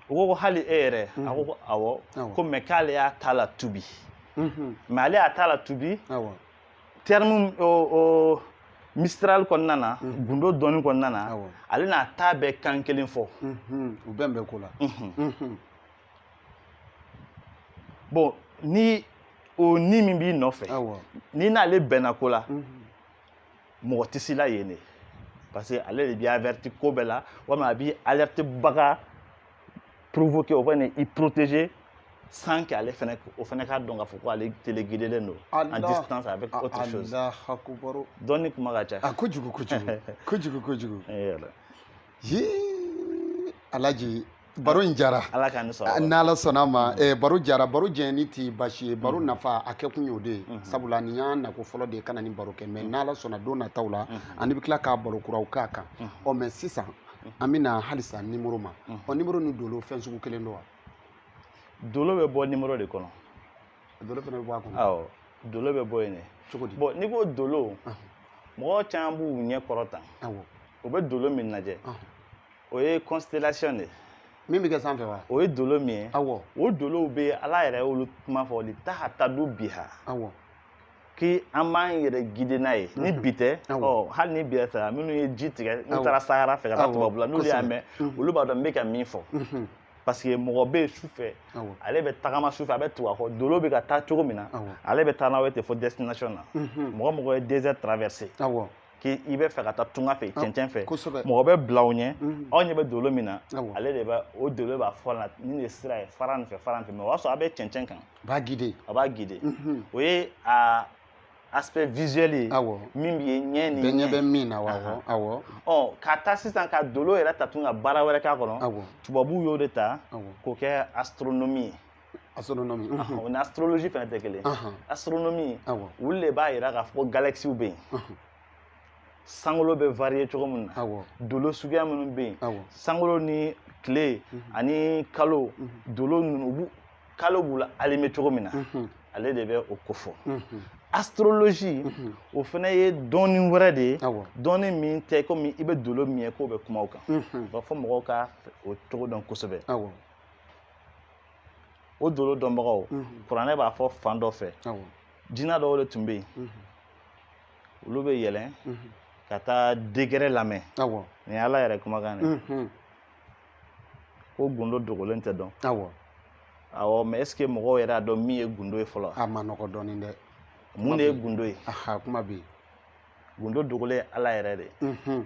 u ko ko hali e yɛrɛ a ko ko mhm. awɔ ko mais k'ale y'a ta latubi mhm. mais ale y'a ta latubi terme mistral kɔnɔna na mhm. gundo dɔnni kɔnɔna na ale n'a ta bɛɛ kan kelen fo u bɛn bɛ ko la bon ni o ni min b'i nɔfɛ n'i n'ale bɛnna ko la mɔgɔ tɛ s'i la yen dɛ parce que ale de b'i averti ko bɛɛ la walima a b'i alerter baga provoquer o fɛnɛ i protéger sans que ale fɛnɛ o fɛnɛ k'a dɔn k'a fɔ ko ale téléguidelen don en distance avec autre chose dɔnni kuma ka ca a kojugu kojugu kojugu kojugu yala alaji baro in jara ala k'an sɔrɔ n'ala sɔnna ma eh, baro jara baro jɛni tɛ basi ye baro mm-hmm. nafa a kɛ kun y'o de ye mm-hmm. sabula nin y'an nako fɔlɔ de ye ka na nin baro kɛ mais mm-hmm. n'ala sɔnna don nataw la ani bɛ tila ka baro kuraw k'a kan ɔ mais sisan an bɛna halisa nimoro ma ɔ nimoro ni dolo fɛn sugu kelen don wa dolo bɛ bɔ nimoro de kɔnɔ dolo fana bɛ bɔ a kɔnɔ awɔ dolo bɛ bɔ yen de cogo di bon n'i ko dolo mɔgɔ caman b'u ɲɛ kɔrɔta u bɛ dolo min lajɛ o ye constellation de ye min bɛ kɛ sanfɛ wa o ye dolo min ye awɔ o dolow bɛ ala yɛrɛ y'olu kuma fɔ litahtadu biha awɔ ki an b'an yɛrɛ guider n'a ye ni bi tɛ Awɔ. ɔ hali ni bi yɛrɛ tɛ minnu ye ji tigɛ n'u Awɔ. taara sahara fɛ ka taa Awɔ, tubabula n'olu y'a kosɛbɛ. mɛn Mhm. olu b'a dɔn n bɛ ka min fɔ Mhm. parce que mɔgɔ bɛ yen su fɛ awɔ ale bɛ tagama su fɛ a bɛ tugu a kɔ dolo bɛ ka taa cogo min na Awɔ. ale bɛ taa n'a ye ten fo destination na Mhm. mɔgɔ mɔgɔ ye désert traverser awɔ k'i bɛ fɛ ka taa tunga fɛ ah, cɛncɛn fɛ mɔgɔ bɛ bila aw ɲɛ mhm. aw ɲɛ bɛ dolo min na ah, ale de bɛ o dolo b'a fɔ la nin de sira ye fara nin fɛ fara nin fɛ mais o y'a sɔrɔ a bɛ cɛncɛn kan a b'a guider a b'a guider mhm. o ye a aspect visuel ye ah, min bɛ ye ɲɛ ni ɲɛ bɛ min na wa awɔ ɔ ka taa sisan ka dolo yɛrɛ ta tun ka baara wɛrɛ k'a kɔnɔ tubabuw y'o de ta k'o kɛ astronomie ye astronomie o ni astrologie fana tɛ kelen astronomie olu de b'a yira k'a fɔ ko galaxiw bɛ yen sankolo bɛ varier cogo min na dolo suguya minnu bɛ yen sankolo ni tile ani kalo dolo ninnu u b'u kalo b'u la allumer cogo min na ale de bɛ o ko fɔ astrologie o fana ye dɔnni wɛrɛ de ye dɔnni min tɛ komi i bɛ dolo min ye k'u bɛ kuma o kan u b'a fɔ mɔgɔw ka o cogo dɔn kosɛbɛ o dolo dɔnbagaw kuranɛ b'a fɔ fan dɔ fɛ jinɛ dɔw de tun bɛ yen olu bɛ yɛlɛn ka taa décret lamɛn nin ala yɛrɛ kumakan de ko gundo dogolen tɛ dɔn awɔ mais est-ce que mɔgɔw yɛrɛ y'a dɔn min ye gundo ye fɔlɔ a ma nɔgɔ dɔɔnin dɛ mun de ye gundo ye kuma bɛ yen gundo dogolen ye ala yɛrɛ de ye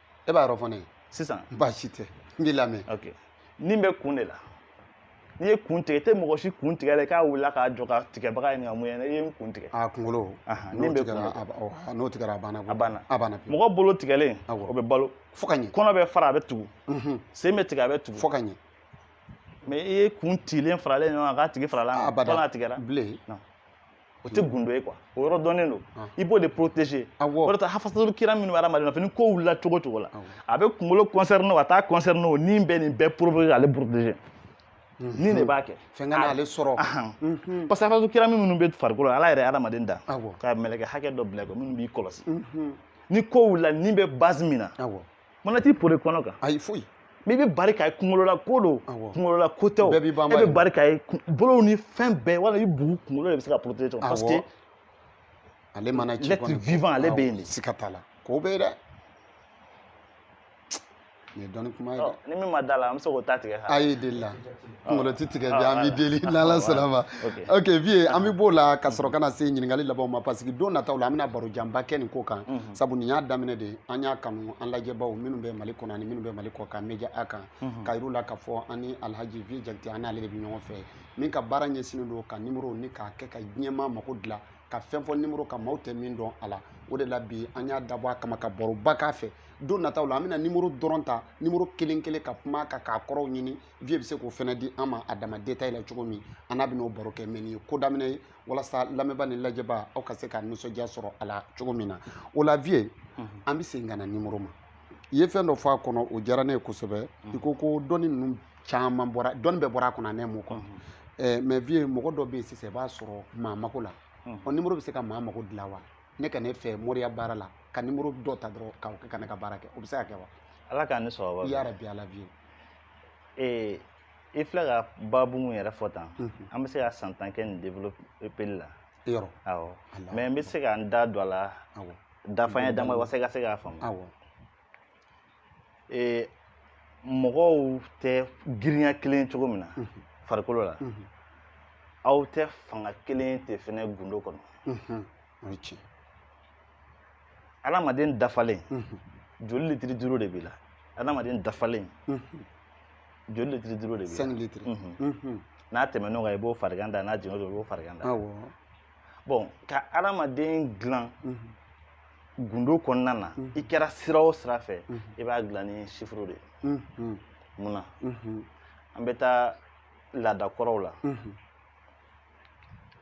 e b'a yɔrɔ fɔ ne ye sisan baasi tɛ n b'i lamɛn ok ni bɛ kun de la n'i ye kun tigɛ i tɛ mɔgɔ si kun tigɛlen k'a wulila k'a jɔ ka tigɛbaga ɲininka mun ye i ye n kun tigɛ a kunkolo n'o tigɛra n'o tigɛra a banna a banna a banna mɔgɔ bolo tigɛlen o bɛ balo fo ka ɲɛ kɔnɔ bɛ fara a bɛ tugu mhm. sen bɛ tigɛ a bɛ tugu fo ka ɲɛ mais i ye kun tilen faralen ɲɔgɔn kan k'a tigi farala a banna a tigɛra bilen o tɛ gundo ye quoi o yɔrɔ dɔnnen don i b'o de protéger o de ta hafasatulu kiram minnu bɛ adamaden nɔfɛ ni ko wulila cogo o cogo la a bɛ kunkolo concerné o a t'a concerné o ni bɛ nin bɛɛ protéger ale protéger ni de b'a kɛ fɛn kana ale sɔrɔ parce que hafasatulu kiram minnu bɛ farikolo ala yɛrɛ ye adamaden da ka mɛlɛkɛ hakɛ dɔ bil'i kɔ minnu b'i kɔlɔsi ni ko wulila ni bɛ base min na Mana t'i pori kɔnɔ kan ayi foyi mais i bɛ bari k'a ye kunkolola ko don kunkolola ko tɛ e bɛ bari k'a ye bolow ni fɛn bɛɛ wala i bugu kunkolo de bɛ se ka protéger parce que ale mana ci l'être vivant ale bɛ yen de siga t'a la k'o bɛ yen dɛ nin ye dɔnni kuma ye dɛ ni min ma d'a la an bɛ se k'o ta tigɛ a ye deli la kunkolo ti tigɛ bi an bɛ deli n'ala sɔnn'a ma ok vieux an bɛ b'o la ka sɔrɔ ka na se ɲininkali labanw ma parce que don nataw la an bɛna baro janba kɛ nin ko kan sabu nin y'a daminɛ de ye an y'a kanu an lajɛbaw minnu bɛ mali kɔnɔ ani minnu bɛ mali kɔkan media a kan k'a yir'u la k'a fɔ an ni alhaji vieux jakite an n'ale de bɛ ɲɔgɔn fɛ min ka baara ɲɛsinnen don ka nimoro ni k'a kɛ ka diɲɛmaa mako dilan ka fɛn fɔ nimoro kan maaw tɛ min dɔn a la o de la bi an y'a dabɔ a kama ka baroba k'a fɛ don nataw la an bɛna nimoro dɔrɔn ta nimoro kelen kelen ka kuma ka k'a kɔrɔw ɲini vieux bɛ se k'o fana di an ma a dama détail la cogo min an n'a bɛn'o baro kɛ mais nin ye ko daminɛ ye walasa lamɛnba ni lajɛba aw ka se ka nisɔndiya sɔrɔ a la cogo min na o la vieux an bɛ segin ka na nimoro ma i ye fɛn dɔ fɔ a kɔnɔ o diyara ne ye kosɛbɛ i ko ko dɔnni ninnu caman bɔra dɔnni bɛɛ bɔra a kɔnɔ a nimoro kɔnɔ ɛɛ mais vieux mɔgɔ dɔ bɛ yen sisan i b'a sɔrɔ maa mako la o nimoro bɛ se ka maa mako dilan wa ne ka n'e fɛ moriya baara la ka nimoro dɔ ta dɔrɔn k'o kɛ ka ne ka baara kɛ o bɛ se ka kɛ wa ala k'an ni sababa bɛn yarabi ala vieux ee i filɛ ka baabu mun yɛrɛ fɔ tan an bɛ se ka san tan kɛ nin développeli la yɔrɔ awɔ mais n bɛ se ka n da don a la dafanya dama walasa i ka se k'a faamu ee mɔgɔw tɛ girinya kelen cogo min na farikolo la aw tɛ fanga kelen tɛ fɛnɛ gundo kɔnɔ o ye tiɲɛ adamaden dafalen joli litiri duuru de b'i la adamaden dafalen joli litiri duuru de b'i la cinq litres n'a tɛmɛn'o kan i b'o farigan da n'a jiginna o i b'o farigan da bon ka adamaden dilan gundo kɔnɔna na i kɛra sira o sira fɛ i b'a dilan ni sifuru de ye munna an bɛ taa laada kɔrɔw la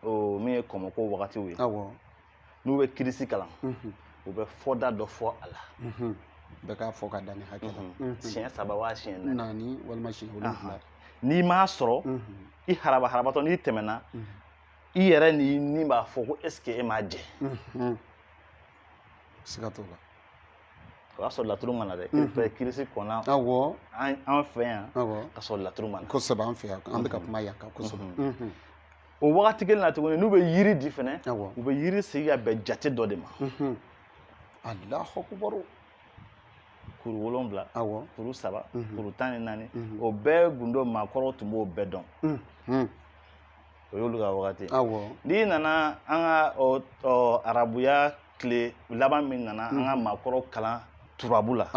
o min ye kɔmɔko wagatiw ye awɔ n'u bɛ kirisi kalan u bɛ fɔ da dɔ fɔ a la bɛɛ k'a fɔ ka dan nin hakɛ la siɲɛ saba waa siɲɛ naani walima siɲɛ wolonwula n'i m'a sɔrɔ i haraba harabatɔ n'i tɛmɛna i yɛrɛ ni ni b'a fɔ ko est ce que e m'a jɛ siga t'o la o y'a sɔrɔ laturu ma na dɛ fɛ kirisi kɔnna awɔ an fɛ yan ka sɔrɔ laturu ma na kosɛbɛ an fɛ yan an bɛ ka kuma yan kan kosɛbɛ o wagati kelen na tuguni n'u bɛ yiri di fɛnɛ u bɛ yiri sigi ka bɛn jate dɔ de ma alahu akubaru kuru wolonwula awɔ kuru saba kuru tan ni naani o bɛɛ gundo maakɔrɔw tun b'o bɛɛ dɔn o y'olu ka wagati n'i nana an ka arabuya tile laban min nana an ka maakɔrɔw kalan turabu la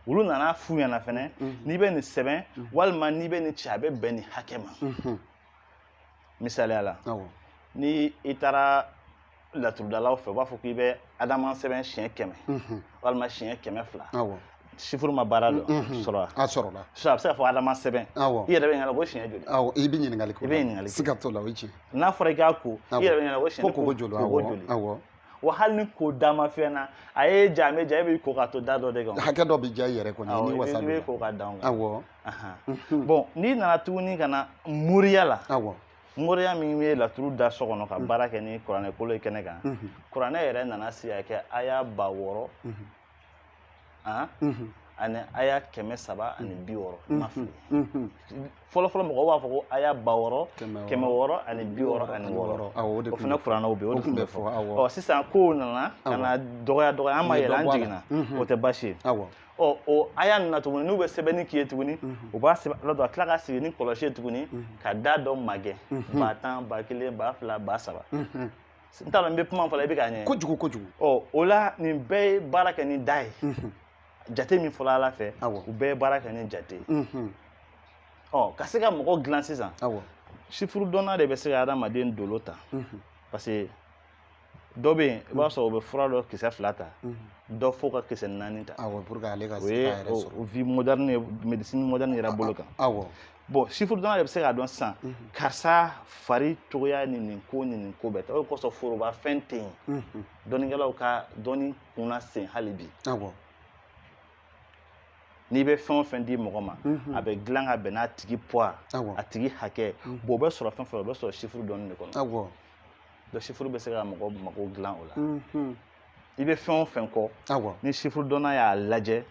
olu nana f'u ɲɛ na fɛnɛ n'i bɛ nin sɛbɛn walima n'i bɛ nin ci a bɛ bɛn nin hakɛ ma misaliya la ni i taara laturudalaw fɛ u b'a fɔ k'i bɛ adama sɛbɛn siɲɛ kɛmɛ walima siɲɛ kɛmɛ fila sifuru ma baara dɔ sɔrɔ a sɔrɔla so a bɛ se ka fɔ adama sɛbɛn i yɛrɛ bɛ ɲininka ko siɲɛ joli awɔ i bɛ ɲininkali kɛ i bɛ ɲininkali kɛ siga t'o la o ye tiɲɛ n'a fɔra i k'a ko i yɛrɛ bɛ ɲininka ko siɲɛ ko joli awɔ joli awɔ wa hali ni ko da ma fɛn na a ye ja bɛ ja e b'i ko ka to da dɔ de kan hakɛ dɔ bɛ ja i yɛrɛ kɔni ni wasa bɛ ko ka dan awɔ bon n'i nana tuguni ka na moriya la awɔ moriya min bɛ laturu da so kɔnɔ ka mm. baara kɛ ni kuranɛ kolo ye kɛnɛ kan mm-hmm. kuranɛ yɛrɛ nana sigi ka kɛ aya ba wɔɔrɔ mm-hmm. ah, mm-hmm. ani aya kɛmɛ saba ani bi wɔɔrɔ i ma fili fɔlɔfɔlɔ mɔgɔw b'a fɔ ko aya ba wɔɔrɔ kɛmɛ wɔɔrɔ ani bi wɔɔrɔ ani wɔɔrɔ o fana kuranɛw bɛ yen o de tun bɛ fɔ ɔ sisan kow nana ka na dɔgɔya dɔgɔya an ma yɛlɛ an jiginna o tɛ baasi ye ɔ o aya ninnu na tuguni n'u bɛ sɛbɛnni k'i ye tuguni mhm. u b'a sɛbɛn ala dɔn a tila ka sigi ni kɔlɔsi ye tuguni mhm. ka da dɔ magɛn mhm. ba tan ba kelen ba fila ba saba n t'a dɔn n bɛ kuma fɔla i bɛ k'a ɲɛ kojugu kojugu ɔ o la nin bɛɛ ye baara kɛ ni da ye jate min fɔla ala fɛ u bɛɛ ye baara kɛ ni jate ye ɔ ka se ka mɔgɔ dilan sisan sifurudɔnna de bɛ se ka adamaden dolo ta parce que dɔ bɛ yen i b'a sɔrɔ o bɛ fura dɔ kisɛ fila ta dɔ fo ka kisɛ naani ta awɔ pour que ale ka se k'a yɛrɛ sɔrɔ o ye vie moderne ye médecine moderne yɛrɛ bolo kan awɔ bon sifurudɔnna de bɛ se k'a dɔn sisan karisa fari cogoya ni nin ko ni nin ko bɛɛ ta o de kosɔn foroba fɛn tɛ yen dɔnnikɛlaw ka dɔnni kunna sen hali bi awɔ n'i bɛ fɛn o fɛn di mɔgɔ ma a bɛ dilan ka bɛn n'a tigi poids a tigi hakɛ bon o bɛ sɔrɔ fɛn fɛn o bɛ sɔrɔ sifuru dɔnni de kɔnɔ awɔ donc sifuru bɛ se ka mɔgɔ mago dilan o la i bɛ fɛn o fɛn kɔ ni sifuru dɔnna y'a lajɛ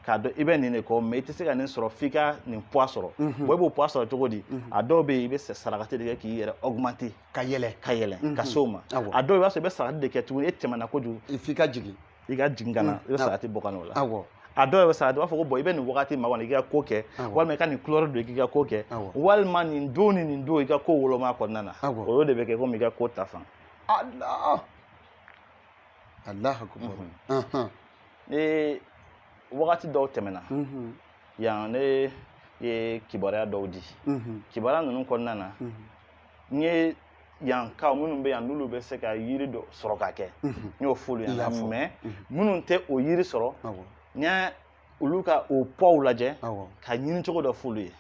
k'a dɔn i bɛ nin de kɔ mɛ i tɛ se ka nin sɔrɔ f'i ka nin puwa sɔrɔ bɔn i b'o puwa sɔrɔ cogo di a dɔw bɛ yen i bɛ sarakati de kɛ k'i yɛrɛ ɔgumante ka yɛlɛ ka yɛlɛ ka se o ma a dɔw i b'a sɔrɔ i bɛ sarakati de kɛ tuguni e tɛmɛna kojugu f'i ka jigin i ka jigin ka na i bɛ sarakati bɔ ka na o la awɔ a dɔw yɛrɛ bɛ sarakati u b'a fɔ ko bɔn i bɛ nin wagati ma kɔni i ka ko kɛ walima i ka nin kulɔri don i ka ko kɛ walima nin don ni nin don i ka ko woloma kɔnɔna na o y'o de bɛ kɛ komi i ka ko ta fan ala alahu akubaru ni wagati dɔw tɛmɛna yan ne ye kibaruya dɔw di kibaruya ninnu kɔnɔna na n ye yankaw minnu bɛ yan n'olu bɛ se ka yiri dɔ sɔrɔ ka kɛ n y'o f'olu ɲɛna mɛ minnu tɛ o yiri sɔrɔ n y'a olu ka o puwa lajɛ ka ɲini cogo dɔ f'olu ye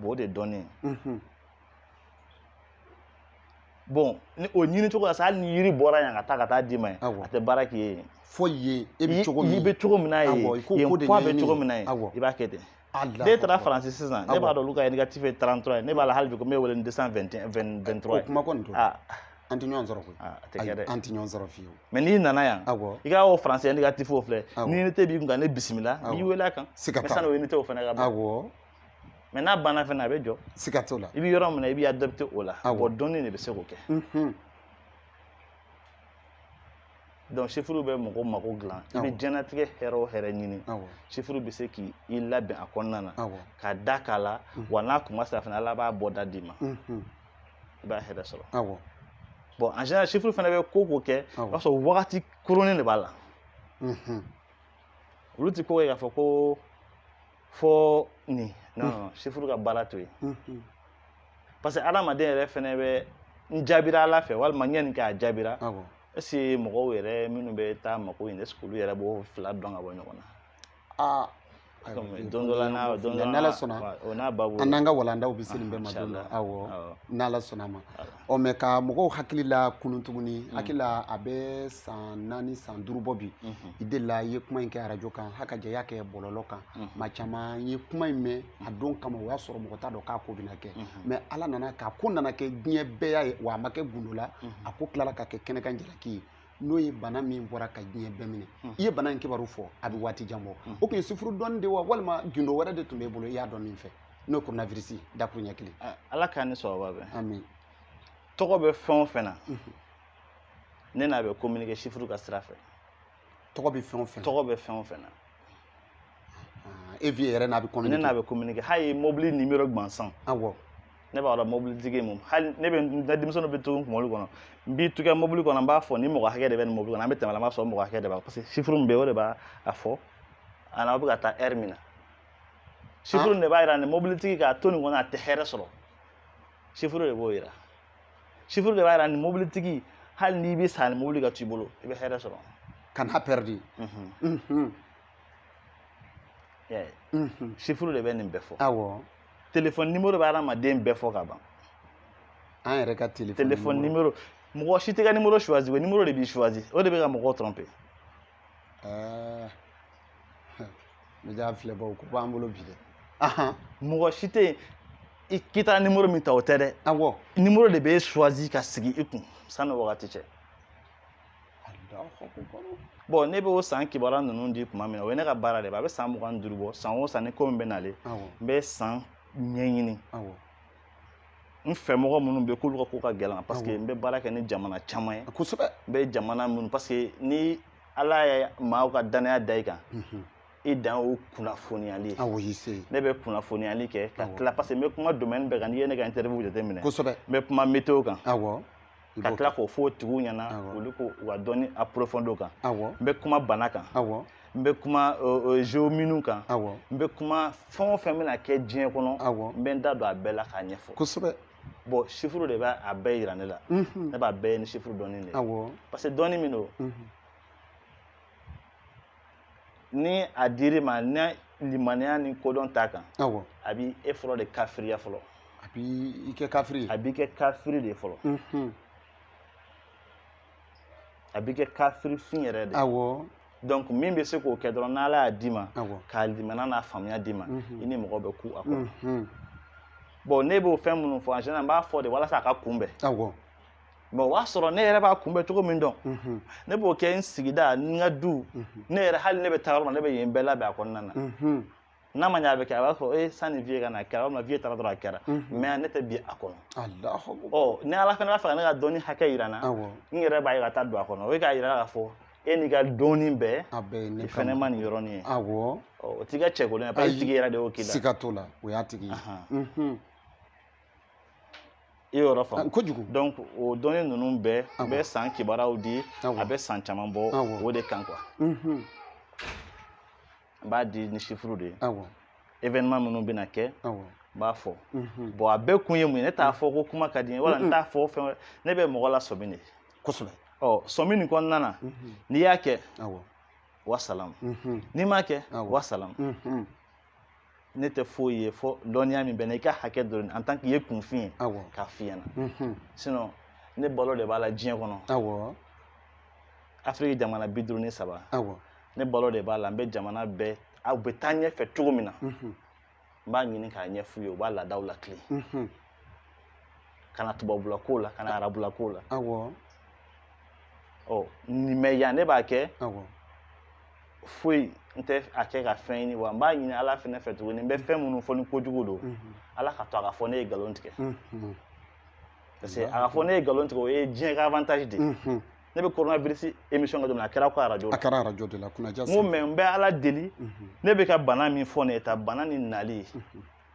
o de dɔnnen bɔn ni o ɲini cogo la sa hali ni yiri bɔra yan ka taa ka taa d'i ma yen a tɛ baara k'i ye fo yen e bɛ cogo min i bɛ cogo min na yen yen puwa bɛ cogo min na yen i b'a kɛ ten ne taara faransi sisan ne b'a dɔn olu ka indicatif ye trente-trois ye ne b'a la hali bi ko n bɛ wele ni deux cent vingt-trois ye o kuma kɔni don an tɛ ɲɔgɔn sɔrɔ koyi a tɛ kɛ dɛ an tɛ ɲɔgɔn sɔrɔ fiyewu mɛ n'i nana yan i ka o faransi indicatif o filɛ ni unité b'i kun ka ne bisimila n b'i wele a kan siga t'a la mɛ sanni o unité o fana ka ban mɛ n'a banna fana a bɛ jɔ siga t'o la i bɛ yɔrɔ min na i b'i adapte o la bɔn dɔnni de bɛ se k'o kɛ donc sifuru bɛ mɔgɔ mako dilan i bɛ diɲɛnatigɛ hɛrɛ o hɛrɛ ɲini sifuru bɛ se k'i labɛn a kɔnɔna na ka da k'a la wa n'a kuma sera fana ala b'a bɔ da d'i ma i b'a hɛrɛ sɔrɔ bɔn en général sifuru fana bɛ ko ko kɛ o b'a sɔrɔ wagati kurunnin de b'a la olu tɛ ko kɛ k'a fɔ ko fɔ nin non sifuru ka baara to yen parce que adamaden yɛrɛ fɛnɛ bɛ n jaabira ala fɛ walima n ye nin kɛ a jaabira est-ce que mɔgɔw yɛrɛ minnu bɛ taa mako ɲini est-ce que olu yɛrɛ b'o fila dɔn ka bɔ ɲɔgɔn na aa don dɔ la n'a don dɔ la n'ala sɔnna o n'a babu an n'an ka walandaw bɛ se nin bɛɛ ma don dɔ awɔ n'ala sɔnna a ma ɔ mɛ ka mɔgɔw hakili lakunun tuguni mm. hakili la a bɛ san naani san duuru bɔ bi mm-hmm. i delila i ye kuma in kɛ arajo kan haka jɛ y'a kɛ bɔlɔlɔ kan mm-hmm. maa caman ye kuma in mɛn a don kama o y'a sɔrɔ mɔgɔ t'a dɔn k'a ko bɛna kɛ mm-hmm. mɛ ala nana k'a ko nana kɛ diɲɛ bɛɛ y'a ye wa a ma kɛ gundo la a ko tilala ka kɛ kɛnɛkan jalaki ye n'o ye bana min bɔra ka diɲɛ bɛɛ minɛ i ye bana in kibaru fɔ a bɛ waati jan bɔ o tun ye sifuru dɔnni de wa walima gundo wɛrɛ de tun b'e bolo i y'a dɔn min fɛ n'o ye koronavirisi dakuruɲɛ kelen ala k'an ni sababa bɛn ami tɔgɔ bɛ fɛn o fɛn na mhm. ne n'a bɛ communiquer chiffre ka sira fɛ tɔgɔ bɛ fɛn o fɛn tɔgɔ bɛ fɛn o fɛn na ah, e viye yɛrɛ n'a bɛ communiquer ne n'a bɛ communiquer hali mobili numéro gansan awɔ ne b'a dɔn mobilitigi mun hali ne bɛ n ka denmisɛnninw bɛ to n kun mobili kɔnɔ n b'i tukɛ mobili kɔnɔ n b'a fɔ nin mɔgɔ hakɛ de bɛ nin mobili kɔnɔ an bɛ tɛmɛ a la n b'a sɔrɔ mɔgɔ hakɛ de b'a parce que chiffre min bɛ yen o de b'a fɔ ani aw bɛ ka taa ɛri min na sifuru de b'a yira nin mobilitigi k'a to nin kɔnɔ a tɛ hɛrɛ sɔrɔ sifuru de b'o yira sifuru de b'a yira nin mobilitigi hali n'i bɛ sa nin mobili ka t'i bolo i bɛ hɛrɛ sɔrɔ kan'a pɛridi sifuru de bɛ nin bɛɛ fɔ awɔ telefɔni nimoro bɛ adamaden bɛɛ fɔ ka ban an yɛrɛ ka telefɔni nimoro mɔgɔ si tɛ ka nimoro suwazi nimoro de b'i suwazi o de bɛ ka mɔgɔw tɔrɔnpe ɛɛ n bɛ filɛbaw ko b'an bolo bi dɛ mɔgɔ si tɛ yen k'i taara nimoro min ta o tɛ dɛ awɔ nimoro de b'e suwazi ka sigi i kun sanni wagati cɛ bɔn ne bɛ o san kibaruya ninnu di tuma min na o ye ne ka baara de ye a bɛ san mugan ni duuru bɔ san o san ni ko min bɛ nalen n bɛ san ɲɛɲini n fɛ mɔgɔ minnu bɛ k'olu ka ko ka gɛlɛn parce que n bɛ baara kɛ ni jamana caman ye kosɛbɛ n bɛ jamana minnu parce que ni ala ye maaw ka danaya da i kan mhm. i dan o kunnafoniyali ye ne bɛ kunnafoniyali kɛ ka tila parce que n bɛ kuma domaine bɛɛ kan n'i ye ne ka interview jateminɛ kosɛbɛ n bɛ kuma météo kan ka tila k'o fɔ o tigiw ɲɛna olu ko u ka dɔnni approfondi o kan n bɛ kuma bana kan n bɛ kuma zeominu kan n bɛ kuma fɛn o fɛn bɛna kɛ diɲɛ kɔnɔ n bɛ n da don a bɛɛ la k'a ɲɛfɔ kosɛbɛ bɔn sifuru de b'a bɛɛ yira ne la ne b'a bɛɛ ye ni sifuru dɔnni de ye parce que dɔnni min don ni a dir'i ma ni limaniya ni kodɔn t'a kan awɔ a b'i e fɔlɔ de kafiriya fɔlɔ a b'i kɛ kafiri ye a b'i kɛ kafiri de fɔlɔ unhun a b'i kɛ kafiri fin yɛrɛ de awɔ donc min bɛ se k'o kɛ dɔrɔn n'ala y'a d'i ma awɔ k'a limaniya n'a faamuya d'i ma Mhm. i ni mɔgɔ bɛ ku a kɔrɔ unhun bɔn ne b'o fɛn minnu fɔ en général n b'a fɔ de walasa a ka kunbɛn awɔ mɛ o b'a sɔrɔ ne yɛrɛ b'a kunbɛn cogo min dɔn mhm. ne b'o kɛ n sigida n ka du mhm. ne yɛrɛ hali ne bɛ taa yɔrɔ min na ne bɛ yen bɛɛ labɛn a kɔnɔna na mhm. n'a ma ɲɛ a bɛ kɛ a b'a fɔ ee sanni viye ka na a kɛra walima viye taara dɔrɔn a kɛra mɛ ne tɛ bin a kɔnɔ ɔ ni ala fana b'a fɛ ka ne ka dɔnni hakɛ yira n na n yɛrɛ b'a ye ka taa don a kɔnɔ o ye k'a yira k'a fɔ e n'i ka dɔnni bɛɛ i fɛnɛ ma nin yɔrɔnin ye awɔ o t'i ka cɛkolon ye parce que i tigi yɛrɛ de y'o k'i la siga t'o la o y'a tigi ye i yɔrɔ faamu kojugu donc o dɔnni ninnu bɛɛ n bɛ san kibaruyaw di a bɛ san caman bɔ o de kan quoi n b'a di ni chiffre de ye événement minnu bɛna kɛ n b'a fɔ bon a bɛɛ kun ye mun ye ne t'a fɔ ko kuma ka di n ye wala n t'a fɔ fɛn ne bɛ mɔgɔ lasɔmi de kosɛbɛ ɔ sɔmi nin kɔnɔna na n'i y'a kɛ wasalamu n'i m'a kɛ wasalamu ne tɛ foyi ye fo dɔnniya min bɛ n na i ka hakɛ dɔrɔn en tant qu'i ye kunfin ye k'a f'i ɲɛna mhm. sinon ne balo de b'a la diɲɛ kɔnɔ afiriki jamana bi duuru ni saba ne balo de b'a la n bɛ jamana bɛɛ aw bɛ taa ɲɛfɛ cogo min na mhm. n b'a ɲini k'a ɲɛf'u ye u b'a laadaw latilen mhm. ka na tubabula ko la ka na arabula ko la ɔ nin mais yan ne b'a kɛ foyi n tɛ a kɛ ka fɛn ɲini wa n b'a ɲini ala fɛnɛ fɛ tuguni n bɛ fɛn minnu fɔ ni kojugu don mhm. ala ka to a ka fɔ ne ye nkalon tigɛ mhm. parce que a ka fɔ ne ye nkalon tigɛ o ye diɲɛ ka avantage de mhm. ne bɛ coronavirus émission kɛ don a kɛra ko arajo a kɛra arajo de la kunnaja n ko mais n bɛ ala deli ne bɛ ka bana min fɔ nin ye tan bana nin nali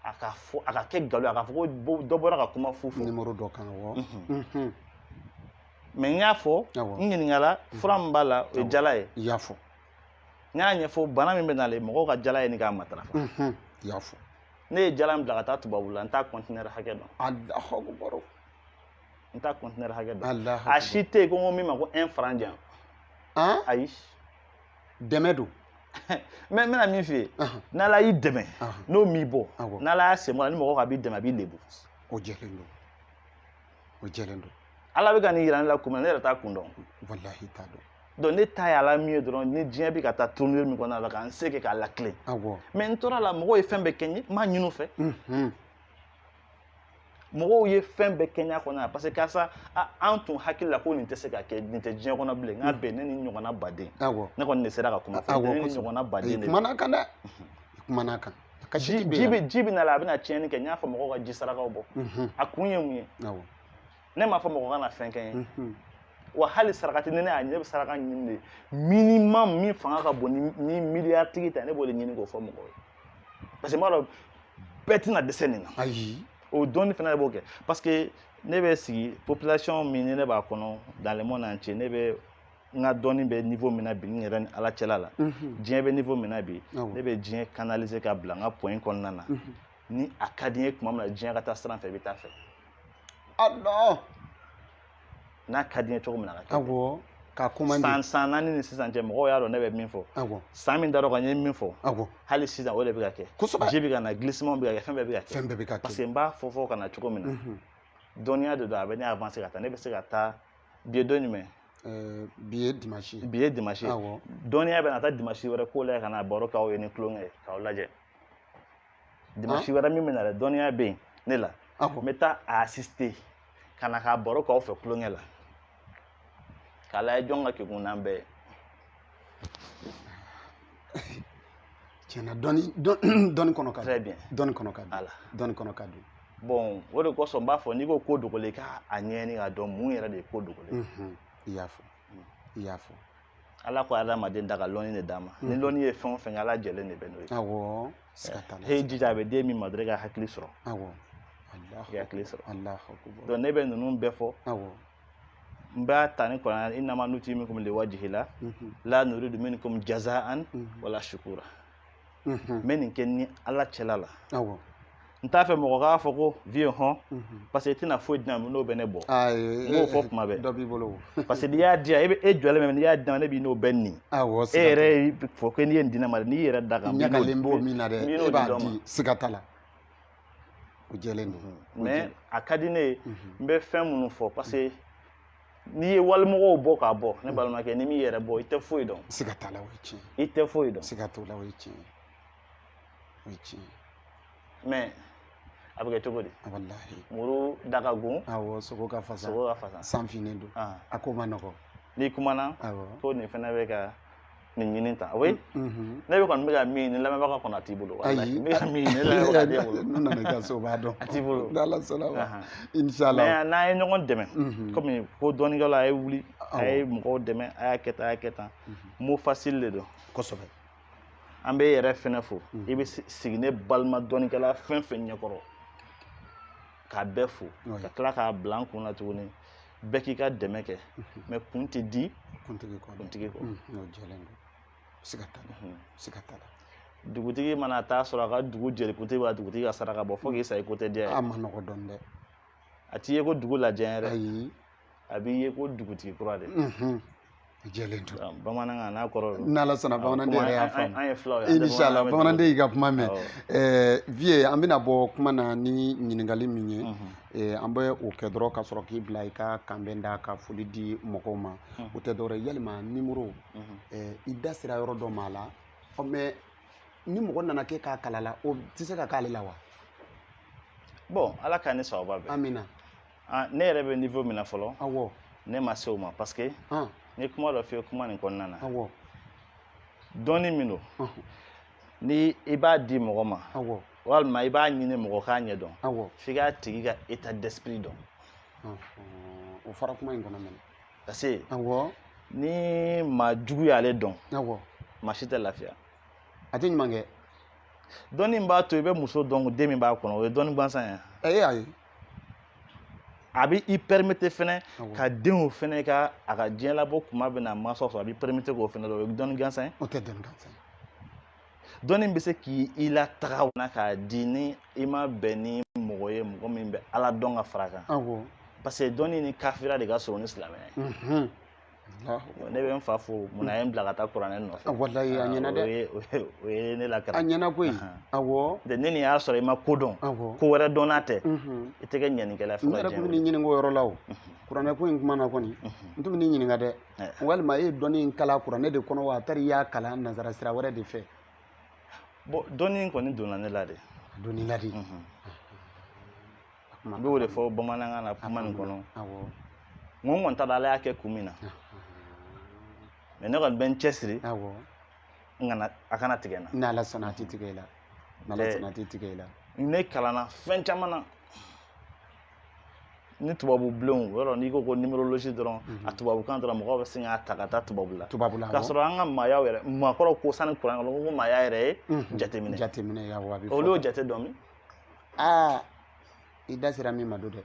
a ka fɔ a ka kɛ nkalon ye a ka fɔ ko dɔ bɔra ka kuma fu fɔ nimoro dɔ kan awɔ mais n y'a fɔ n ɲininkala fura min b'a la o ye jala ye i y'a fɔ n y'a ɲɛfɔ bana min bɛ n'ale mɔgɔw ka jala ɲini k'a matarafa i y'a fɔ ne ye jala min bila ka taa tubabula n t'a kɔntinɛri hakɛ dɔn alahakubaro n t'a kɔntinɛri hakɛ dɔn a si tɛ yen ko n ko min ma ko un franc di yan ayi dɛmɛ don mais n bɛna min f'i ye n'ala y'i dɛmɛ n'o m'i bɔ n'ala y'a sen bɔ a la ni mɔgɔ k'a b'i dɛmɛ a b'i lebu o jɛlen don o jɛlen don ala bɛ ka nin yira ne la kun min na ne yɛrɛ t'a kun dɔn walahi t'a dɔn donc ne ta ye ala min ye dɔrɔn ni diɲɛ bɛ ka taa tournure min kɔnɔna la ka n se kɛ k'a latilen mais n tora a la mɔgɔw ye fɛn bɛɛ kɛ n ye n m'a ɲini u fɛ mɔgɔw ye fɛn bɛɛ kɛ n y'a kɔnɔna la parce que karisa an tun hakili la ko nin tɛ se ka kɛ nin tɛ diɲɛ kɔnɔ bilen nka bɛn ne ni ɲɔgɔnna baden ne kɔni de sera ka kuma fɔ ne ni ɲɔgɔnna baden de kumana kan dɛ kumana kan ka ji bɛ ji bɛ na la a bɛna tiɲɛni kɛ n y'a fɔ mɔgɔw ka ji sarakaw bɔ a kun ye mun ye ne m'a fɔ mɔgɔ kana fɛn kɛ n ye wa hali sarakati ni ne y'a ye n bɛ saraka ɲini de minimum min fanga ka bon ni miliyari tigi ta ne b'o de ɲini k'o fɔ mɔgɔw ye parce que n b'a dɔn bɛɛ tɛna dɛsɛ nin na ayi o dɔnni fana b'o kɛ parce que ne bɛ sigi population min ni ne b'a kɔnɔ dans le monde entier ne bɛ n ka dɔnni bɛ niveau min na bi n yɛrɛ ni ala cɛla la diɲɛ bɛ niveau min na bi ne bɛ diɲɛ canaliser ka bila n ka point kɔnɔna na ni a ka di n ye tuma min na diɲɛ ka taa sira fɛ i bɛ taa fɛ ala n'a ka di n ye cogo min na ka kɛ awɔ ka commencer san naani ni sisan cɛ mɔgɔw y'a dɔn ne bɛ min fɔ awɔ san min dar'o kan n ye min fɔ awɔ hali sisan o de bɛ ka kɛ kosɛbɛ ji bɛ ka na glissement bɛ ka kɛ fɛn bɛɛ bɛ ka kɛ fɛn bɛɛ bɛ ka kɛ parce que n b'a fɔ ka na cogo min na Mhm. dɔnniya de don a bɛ ne avancer ka taa ne bɛ se ka taa bi ye don jumɛn Eh, bi ye dimanche ye bi ye dimanche ye awɔ dɔnniya bɛ na taa dimanche wɛrɛ k'o la ka na baro k'aw ye ni tulonkɛ ye k'aw lajɛ dimanche wɛrɛ min bɛna dɛ dɔnniya bɛ yen ne la n bɛ taa a assister ka na k'a baro k'aw fɛ tulonkɛ la k'a lajɛ jɔn ka kegun n'an bɛɛ ye tiɲɛna dɔnni dɔnni kɔnɔ ka dun très bien dɔnni kɔnɔ ka dun ala dɔnni kɔnɔ ka dun bon o de kosɔn n b'a fɔ n'i ko ko dogolen k'a ɲɛɲini k'a dɔn mun yɛrɛ de ye ko dogolen i y'a fɔ i y'a fɔ ala ko adamaden da ka lɔnni de d'a ma ni mhm. lɔnni ye fɛn o fɛn ala jɛlen de bɛ n'o ye awɔ he jija a bɛ di min ma dɔrɔn i ka hakili sɔrɔ awɔ i ka hakili sɔrɔ donc ne bɛ ninnu bɛɛ fɔ awɔ n b'a ta ni kuranɛ innama nutimukum liwajihila mhm. la nuridu minkum jazaan mhm. wala shukura n bɛ nin kɛ ni ala cɛla la n t'a fɛ mɔgɔ k'a fɔ ko vieux hɔn parce que i tɛna foyi di ne ma n'o bɛ ne bɔ n b'o fɔ kuma bɛɛ dɔ b'i bolo parce que n'i y'a di yan e bɛ e jɔlen bɛ n'i y'a di yan ne b'i n'o bɛɛ nin e yɛrɛ fɔ ko n'i ye nin di ne ma n'i yɛrɛ da kan ɲagalen b'o min na dɛ e b'a di siga t'a la o jɛlen don mais a ka di ne ye n bɛ fɛn minnu fɔ parce que n'i ye walimɔgɔw bɔ k'a bɔ ne balimakɛ n'i m'i yɛrɛ bɔ i tɛ foyi dɔn siga t'a la o ye tiɲɛ i tɛ foyi dɔn siga t'o la o ye tiɲɛ ye o ye tiɲɛ ye mais a bɛ kɛ cogo di walahi muru da ka gon awɔ sogo ka fasa sogo ka fasa san finnen don a ko ma nɔgɔ n'i kumana awɔ ko nin fana bɛ ka nin ɲini tan o ye mhm. ne bɛ kɔni bɛ ka min ɲini lamɛnbaga kɔnɔ a t'i bolo ayi n bɛ ka min ɲini lamɛnbaga t'i bolo n'u nana i ka so o b'a dɔn a t'i bolo n'ala sɔnna ma insala mais n'an ye ɲɔgɔn dɛmɛ mhm. kɔmi ko dɔnnikɛla a ye wuli a ye mɔgɔw dɛmɛ a y'a kɛ tan a y'a kɛ tan mhm. mot facile de don kosɛbɛ an bɛ yɛrɛ fɛnɛ fo i bɛ sigi ne balima dɔnnikɛla fɛn fɛn ɲɛkɔrɔ k'a bɛɛ fɔ ka tila k'a bila n kun na tuguni bɛɛ k'i ka dɛmɛ kɛ mais kun tɛ di kuntigi kɔ kuntigi kɔ n'o jɛlen don siga t'a la siga t'a la dugutigi mana taa sɔrɔ a ka dugu jelikuntigi b'a dugutigi ka saraka bɔ fo k'i sa i ko tɛ diya a ye a ma nɔgɔ dɔɔnin dɛ a t'i ye ko dugu lajɛ yɛrɛ ayi a b'i ye ko dugutigi kura de A jɛlen don. Bamanankan n'a kɔrɔ don. N'Ala sɔnna bamananden yɛrɛ y'a faamu. An ye filaw ye. Insala bamananden y'i ka kuma mɛn. Ɛɛ Vieux an bɛna bɔ kuma na ni ɲininkali min ye. Ɛɛ an bɛ o kɛ dɔrɔn ka sɔrɔ k'i bila i ka kanbɛn da ka foli di mɔgɔw ma. O tɛ dɔwɛrɛ ye yalima nimoro. Ɛɛ i da sera yɔrɔ dɔ ma a la. Ɔ mais ni mɔgɔ nana k'e k'a kalan a la o tɛ se ka k'ale la wa? Bon Ala k'an ni sababu bɛn. Amina. Ah, ne yɛrɛ bɛ niveau min na fɔlɔ. Awɔ. Ne ma se o ma parce que. Ɔn. N ye kuma dɔ f'i ye kuma nin kɔnɔna na. Awɔ. Dɔnni min don. Ɔn. Ni i b'a di mɔgɔ ma. Awɔ. Walima i b'a ɲini mɔgɔ k'a ɲɛ dɔn. Awɔ. F'i k'a tigi ka état d'esprit dɔn. Ɔnhɔn. O fɔra kuma in kɔnɔ fɛnɛ. Parce que. Awɔ. Ni maa jugu y'ale dɔn. Awɔ. Maa si tɛ lafiya. A tɛ ɲuman kɛ. Dɔnni min b'a to i bɛ muso dɔn den min b'a kɔnɔ o ye dɔnni gansan ye. Ɛ e y'a ye. a bɛ i permettre fɛnɛ ka denw fɛnɛ ka a ka diɲɛ labɔ kuma bɛ na mansaw sɔrɔ a bɛ i permettre k'o fɛnɛ dɔn o ye dɔnni gansan ye o tɛ dɔnni gansan ye dɔnni bɛ se k'i lataga n'a ka di ni i ma bɛn ni mɔgɔ ye mɔgɔ min bɛ ala dɔn ka fara kan parce que dɔnni ni kafiriya de ka surun ni silamɛya ye ne bɛ n fa fo munna a ye n bila ka taa kuranɛ nɔfɛ walayi a ɲɛna dɛ o ye ne lakana a ɲɛna koyi awɔ ne ni y'a sɔrɔ i ma ko dɔn ko wɛrɛ dɔnna tɛ i tɛ kɛ ɲɛnikɛla fo n yɛrɛ tun bɛ nin ɲininka o yɔrɔ la o kuranɛ ko in kuma na kɔni n tun bɛ nin ɲininka dɛ walima e ye dɔnni in kalan kuranɛ de kɔnɔ wa a taara i y'a kalan nanzara sira wɛrɛ de fɛ bon dɔnni in kɔni donna ne la de donna la de n b'o de fɔ bamanankan na kuma nin kɔnɔ n ko n kɔni t'a dɔn ala y'a kɛ kun min na mais ne kɔni bɛ n cɛsiri n kana a kana tigɛ n na n'ala sɔnna a tɛ tigɛ i la n'ala sɔnna a tɛ tigɛ i la ne kalanna fɛn caman na ni tubabu bulonw yɔrɔ n'i ko ko numérologie dɔrɔn mhm. a tubabukan dɔrɔn mɔgɔw bɛ sin k'a ta ka taa tubabu la tubabu la k'a sɔrɔ an ka maayaw yɛrɛ maakɔrɔw ko sani kuranɛ kɔnɔ ko maaya yɛrɛ ye mhm. jateminɛ jateminɛ olu y'o jate dɔn min aa i da sera min ma don dɛ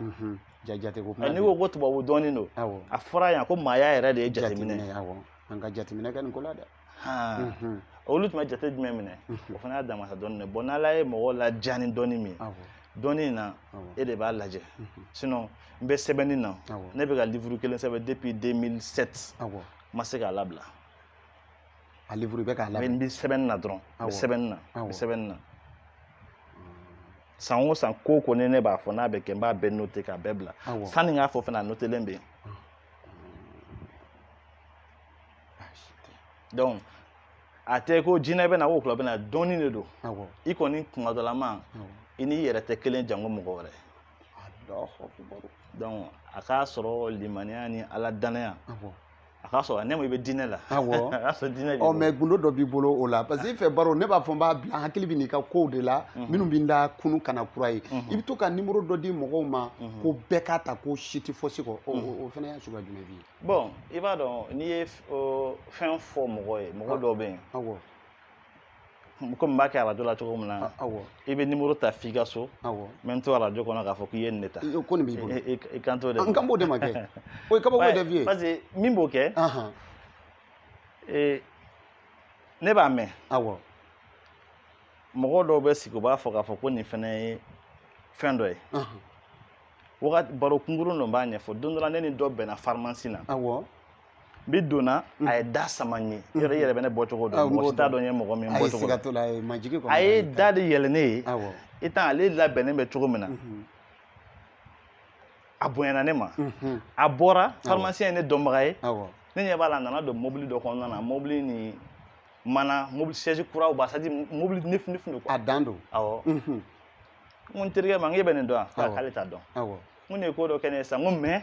mhm. jate ko kuma n'i ko ko tubabu dɔnni don a fɔra yan ko maaya yɛrɛ de ye jateminɛ ye an ka jateminɛ kɛ nin ko la dɛ mhm. olu tun bɛ jate jumɛn minɛ mhm. o fana y'a damasa dɔnni de bon n'ala ye mɔgɔ ladiya ni dɔnni min dɔnni in na e de b'a lajɛ sinon n bɛ sɛbɛnni na ne bɛ ka livuru kelen sɛbɛn depuis 2007 n ma se k'a labila a livre bɛ k'a labɛn n bɛ sɛbɛnni na dɔrɔn n bɛ sɛbɛnni na n bɛ sɛbɛnni na san o san ko kɔni ne b'a fɔ n'a bɛ kɛ n b'a bɛɛ note k'a bɛɛ bila sanni n k'a fɔ fana a notelen bɛ yen donc a tɛ ko jinɛ bɛ na wɔkulɔ bɛ na dɔnni de don i kɔni k'i madon ala ma i n'i yɛrɛ tɛ kelen janko mɔgɔ wɛrɛ donc a k'a sɔrɔ limaniya ni ala danaya a k'a sɔrɔ ne ma i bɛ diinɛ la awɔ a y'a sɔrɔ diinɛ b'i bolo. mɛ gundo dɔ b'i bolo o la parce que i fɛ baro ne b'a fɔ n b'a bila n hakili bɛ n'i ka kow de la minnu bɛ n da kunu kana kura ye i bɛ to ka nimoro dɔ di mɔgɔw ma ko bɛɛ k'a ta ko si tɛ fosi kɔ o- o o fana y'a suguya jumɛn b'i ye bon i b'a dɔn n'i ye f- o fɛn fɔ mɔgɔ ye mɔgɔ dɔw bɛ yen awɔ komi n b'a kɛ arajo la cogo min na i bɛ nimuru ta f'i ka so n bɛ n to arajo kɔnɔ k'a fɔ k'i ye nin de ta ko nin b'i bolo i kan t'o de ma n kan b'o de ma kɛ o ye kabako de f'i ye parce que min b'o kɛ ne b'a mɛn mɔgɔ dɔw bɛ sigi u b'a fɔ k'a fɔ ko nin fana ye fɛn dɔ ye wagati baro kunkurun dɔ b'a ɲɛfɔ don dɔ la ne ni dɔ bɛnna farimasi na bi donna a ye da sama n ye i yɛrɛ bɛ ne bɔcogo dɔn mɔgɔ si t'a dɔn n ye mɔgɔ min bɔcogo a ye da de yɛlɛ ne ye i tan ale labɛnnen bɛ cogo min na a bonyana ne ma a bɔra farimasiyɛn ye ne dɔnbaga ye ne ɲɛ b'a la a nana don mobili dɔ kɔnɔna na mobili ni mana mobili siège kuraw b'a c'est à dire mobili neuf fini fini a dan don awɔ n ko n terikɛ ma n k'e bɛ nin dɔn wa k'ale t'a dɔn n ko nin ye ko dɔ kɛ ne ye sisan n ko mɛ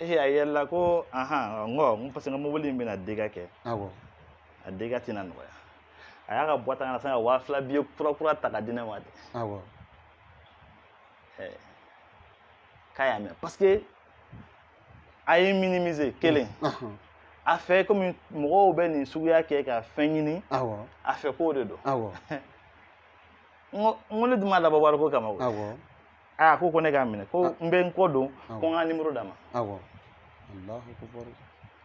ee a yɛlɛla ko ahan n ko n ko parce que n ka mobili in bɛna dégâts kɛ awɔ a dégâts tɛna nɔgɔya a y'a ka boîte à gants sama ka waa fila biye kura kura ta ka di ne ma de awɔ Eh, k'a y'a mɛn parce que a ye minimiser kelen ahɔn a fɛ komi mɔgɔw bɛ nin suguya kɛ ka fɛn ɲini awɔ a fɛ k'o de don awɔ n ko ne dun m'a dabɔ wariko kama o awɔ aa ko ko ne k'a minɛ ko n bɛ n kɔ don ko n ka nimoro d'a ma awɔ alahu akubaru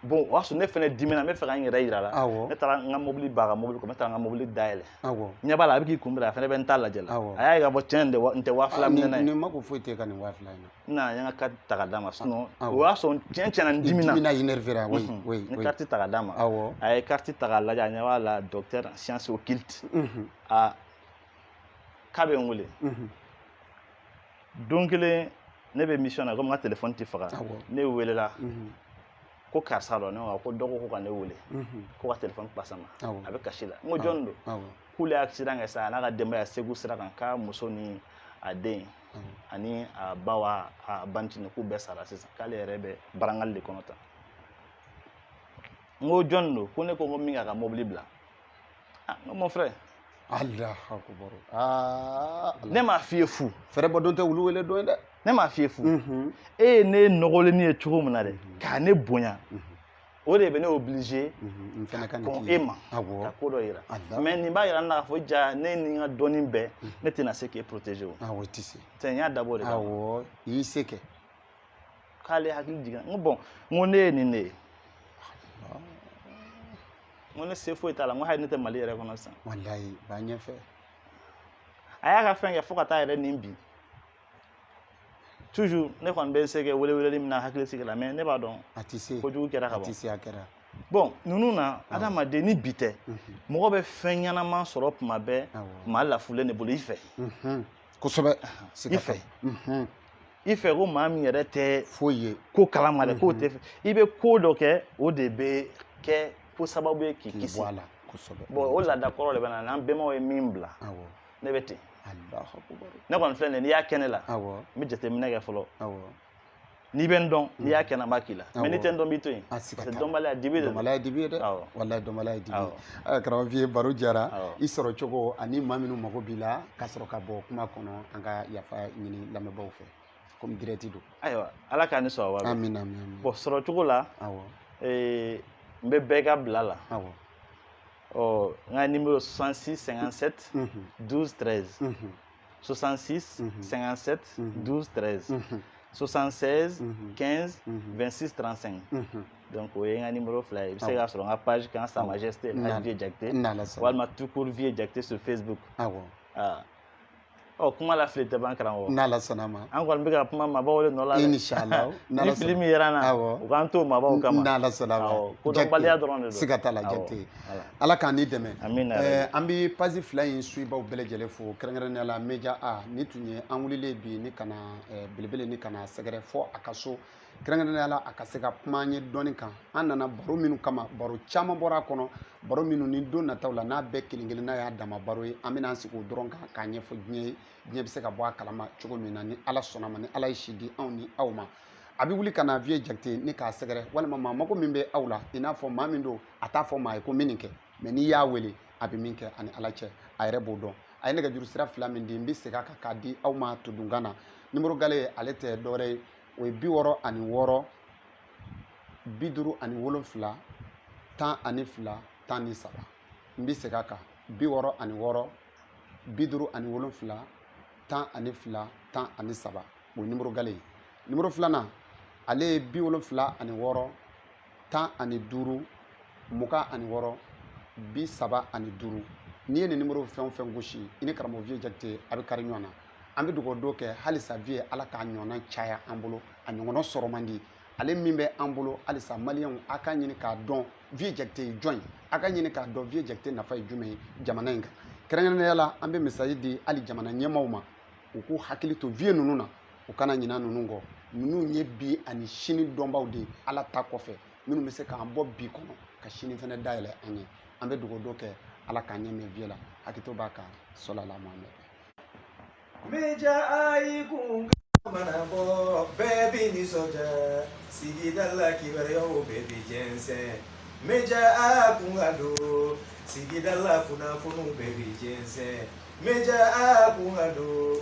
bon o y'a sɔrɔ ne fɛnɛ dimina n bɛ fɛ ka n yɛrɛ yir'a la awɔ ne taara n ka mobili b'a ka mobili kɔnɔ ne taara n ka mobili dayɛlɛ awɔ ɲɛ b'a la a bɛ k'i kunbɛn a fɛnɛ bɛ n ta lajɛ la Awɔ. a y'a ye k'a fɔ tiɲɛ de wa- n tɛ waa fila minɛna ye nin mako foyi tɛ ka nin waa fila in na n nana n ye n ka kariti ta ka d'a ma sinɔn Awɔ. o y'a sɔrɔ tiɲɛ tiɲɛna n dimina dimina énervera oui Mhm. oui n ye oui kariti ta ka d'a ma awɔ a ye kariti ta k'a lajɛ a ɲɛ b'a la docteur en science occulte Mhm. aa k'a bɛ n wele don kelen ne bɛ mission na komi n ka telefɔni tɛ faga ne welela ko karisa dɔ ne ko dɔgɔ ko ka ne wele ko ka telefɔni passer n ma a bɛ kasi la n ko jɔni don k'ale ye accident kɛ sa a n'a ka denbaya segu sira kan k'a muso ni a den ani a ba wa a bantini k'u bɛɛ sara sisan k'ale yɛrɛ bɛ brancard de kɔnɔ tan n ko jɔni don ko ne ko ko min k'a ka mobili bila ah, mon frère Allahu akbar ah, ne m'a f'i ye fu fɛrɛbɔdon tɛ wulu wele don ye dɛ ne m'a f'i ye fu mhm. e ye ne nɔgɔlenni ye cogo min na dɛ mhm. ka ne bonya mhm. o de bɛ ne obliger ka kɔn e ma ka ko dɔ yira mais nin b'a yira n na k'a fɔ jaa ne ni n ka dɔnni bɛɛ ne tɛna se k'e protéger o tɛ n y'a dabɔ de kama awɔ i y'i se kɛ k'ale hakili jiginna n ko bon n ko ne ye nin de ye n ko ne se foyi t'a la n ko hali ne tɛ mali yɛrɛ kɔnɔ sisan walayi b'a ɲɛfɛ a y'a ka fɛn kɛ fo ka taa yɛrɛ ni bi toujours ne kɔni bɛ n se kɛ weleweleli min na hakili sigi la mais ne b'a dɔn a tɛ se kojugu kɛra ka ban a tɛ se a kɛra bon ninnu na adamaden ni bi tɛ mɔgɔ bɛ fɛn ɲɛnama sɔrɔ tuma bɛɛ maa lafulen de bolo i fɛ kosɛbɛ i fɛ i fɛ ko maa min yɛrɛ tɛ foyi ye ko kalama dɛ k'o tɛ fɛ i bɛ ko dɔ kɛ o de bɛ kɛ ko sababu ye k'i kisi bon o laada kɔrɔ de bɛ n na n'an bɛnbaw ye min bila ne bɛ ten ne kɔni filɛ nin n'i y'a kɛ ne la n bɛ jateminɛ kɛ fɔlɔ n'i bɛ n dɔn n'i y'a kɛ n na n b'a k'i la mais n'i tɛ n dɔn n b'i to yen parce que dɔnbaliya dibi de don dɔnbaliya dibi ye dɛ walayi dɔnbaliya ye dibi ye karamɔgɔ vieux baro diyara i sɔrɔ cogo ani maa minnu mago b'i la ka sɔrɔ ka bɔ kuma kɔnɔ an ka yafa ɲini lamɛnbaaw fɛ komi direct don ayiwa ala k'a ni sɔrɔ wa amina bon sɔrɔ cogo la n bɛ bɛɛ ka bila la ɔ n ka nimero 66 57 12 13 66 57 12 13 76 15 26 35 donc o ye n ka nimero fila ye i bɛ se k'a sɔrɔ n ka page kan sa majesté vieux jakite walima tout court vieux jakite sur facebook awɔ ɔ kuma la fili tɛ ban karamɔgɔ n'ala sɔnna ma an kɔni bɛ ka kuma mabɔw de nɔ la inshallah ni fili min yera n na u k'an to mabɔw kama n'ala sɔnna ma kodɔnbaliya dɔrɔn de don siga t'a la jakite ala k'an ni dɛmɛ an bɛ page fila in suibaw bɛɛ lajɛlen fo kɛrɛnkɛrɛnnenya la media a ni tun ye an wulilen bi ni ka na belebele ni ka na sɛgɛrɛ fo a ka so kɛrɛnkɛrɛnnenya la a ka se ka kuma an ye dɔɔni kan an nana baro minnu kama baro caman bɔra a kɔnɔ baro minnu ni don nataw la n'a bɛɛ kelen kelen n'a y'a dama baro ye an bɛna an sigi o dɔrɔn kan k'a ɲɛfɔ diɲɛ ye diɲɛ bɛ se ka bɔ a kalama cogo min na ni ala sɔnna ma ni ala ye si di anw ni aw ma a bɛ wuli ka na vieux jakite ni k'a sɛgɛrɛ walima maa mago min bɛ aw la i n'a fɔ maa min don a t'a fɔ maa ye ko min nin kɛ mɛ n'i y'a wele a bɛ min kɛ a ni ala cɛ a yɛrɛ b'o dɔn a ye nɛgɛjuru sira fila min di n bɛ segin a kan k'a di aw ma todunkan na nimoro gale ale tɛ dɔwɛrɛ ye o ye bi wɔɔrɔ ani wɔɔrɔ bi duuru ani wolonfila tan ani fila tan ni saba n bɛ segin a kan bi wɔɔrɔ ani wɔɔrɔ bi duuru ani wolonfila tan ani fila tan ani saba o ye nimoro gale ye nimoro filanan ale ye bi wolonfila ani wɔɔrɔ tan ani duuru mugan ani wɔɔrɔ bi saba ani duuru n'i ye nin nimoro fɛn o fɛn gosi i ni karamɔgɔ viye jakite a bɛ kari ɲɔgɔn na an bɛ dugawu dɔ kɛ halisa viye ala k'a ɲɔgɔnna caya an bolo a ɲɔgɔnna sɔrɔ man di ale min bɛ an bolo halisa maliyɛnw a k'a ɲini k'a dɔn viye jakite ye jɔn ye a k'a ɲini k'a dɔn viye jakite nafa ye jumɛn ye jamana in kan kɛrɛnkɛrɛnnenya la an bɛ mesazi di hali jamana ɲɛmaaw ma u k'u hakili to viye ninnu na u kana ɲina ninnu kɔ ninnu ye bi ani sini dɔnbaw de ye ala ta kɔfɛ minnu bɛ se k'an bɔ bi kɔnɔ ka sini fana dayɛlɛ an ye an bɛ dugawu dɔ kɛ ala k'an ɲɛ mɛɛn viye la hakɛto b'a kan sɔlala mahamɛ meja a i kun mana bɔ bɛɛ bi nisɔndiya sigida la kibaruyaw bɛɛ bi jɛnsɛn meja a kun ka don sigida la kunnafoniw bɛɛ bi jɛnsɛn meja a kun ka don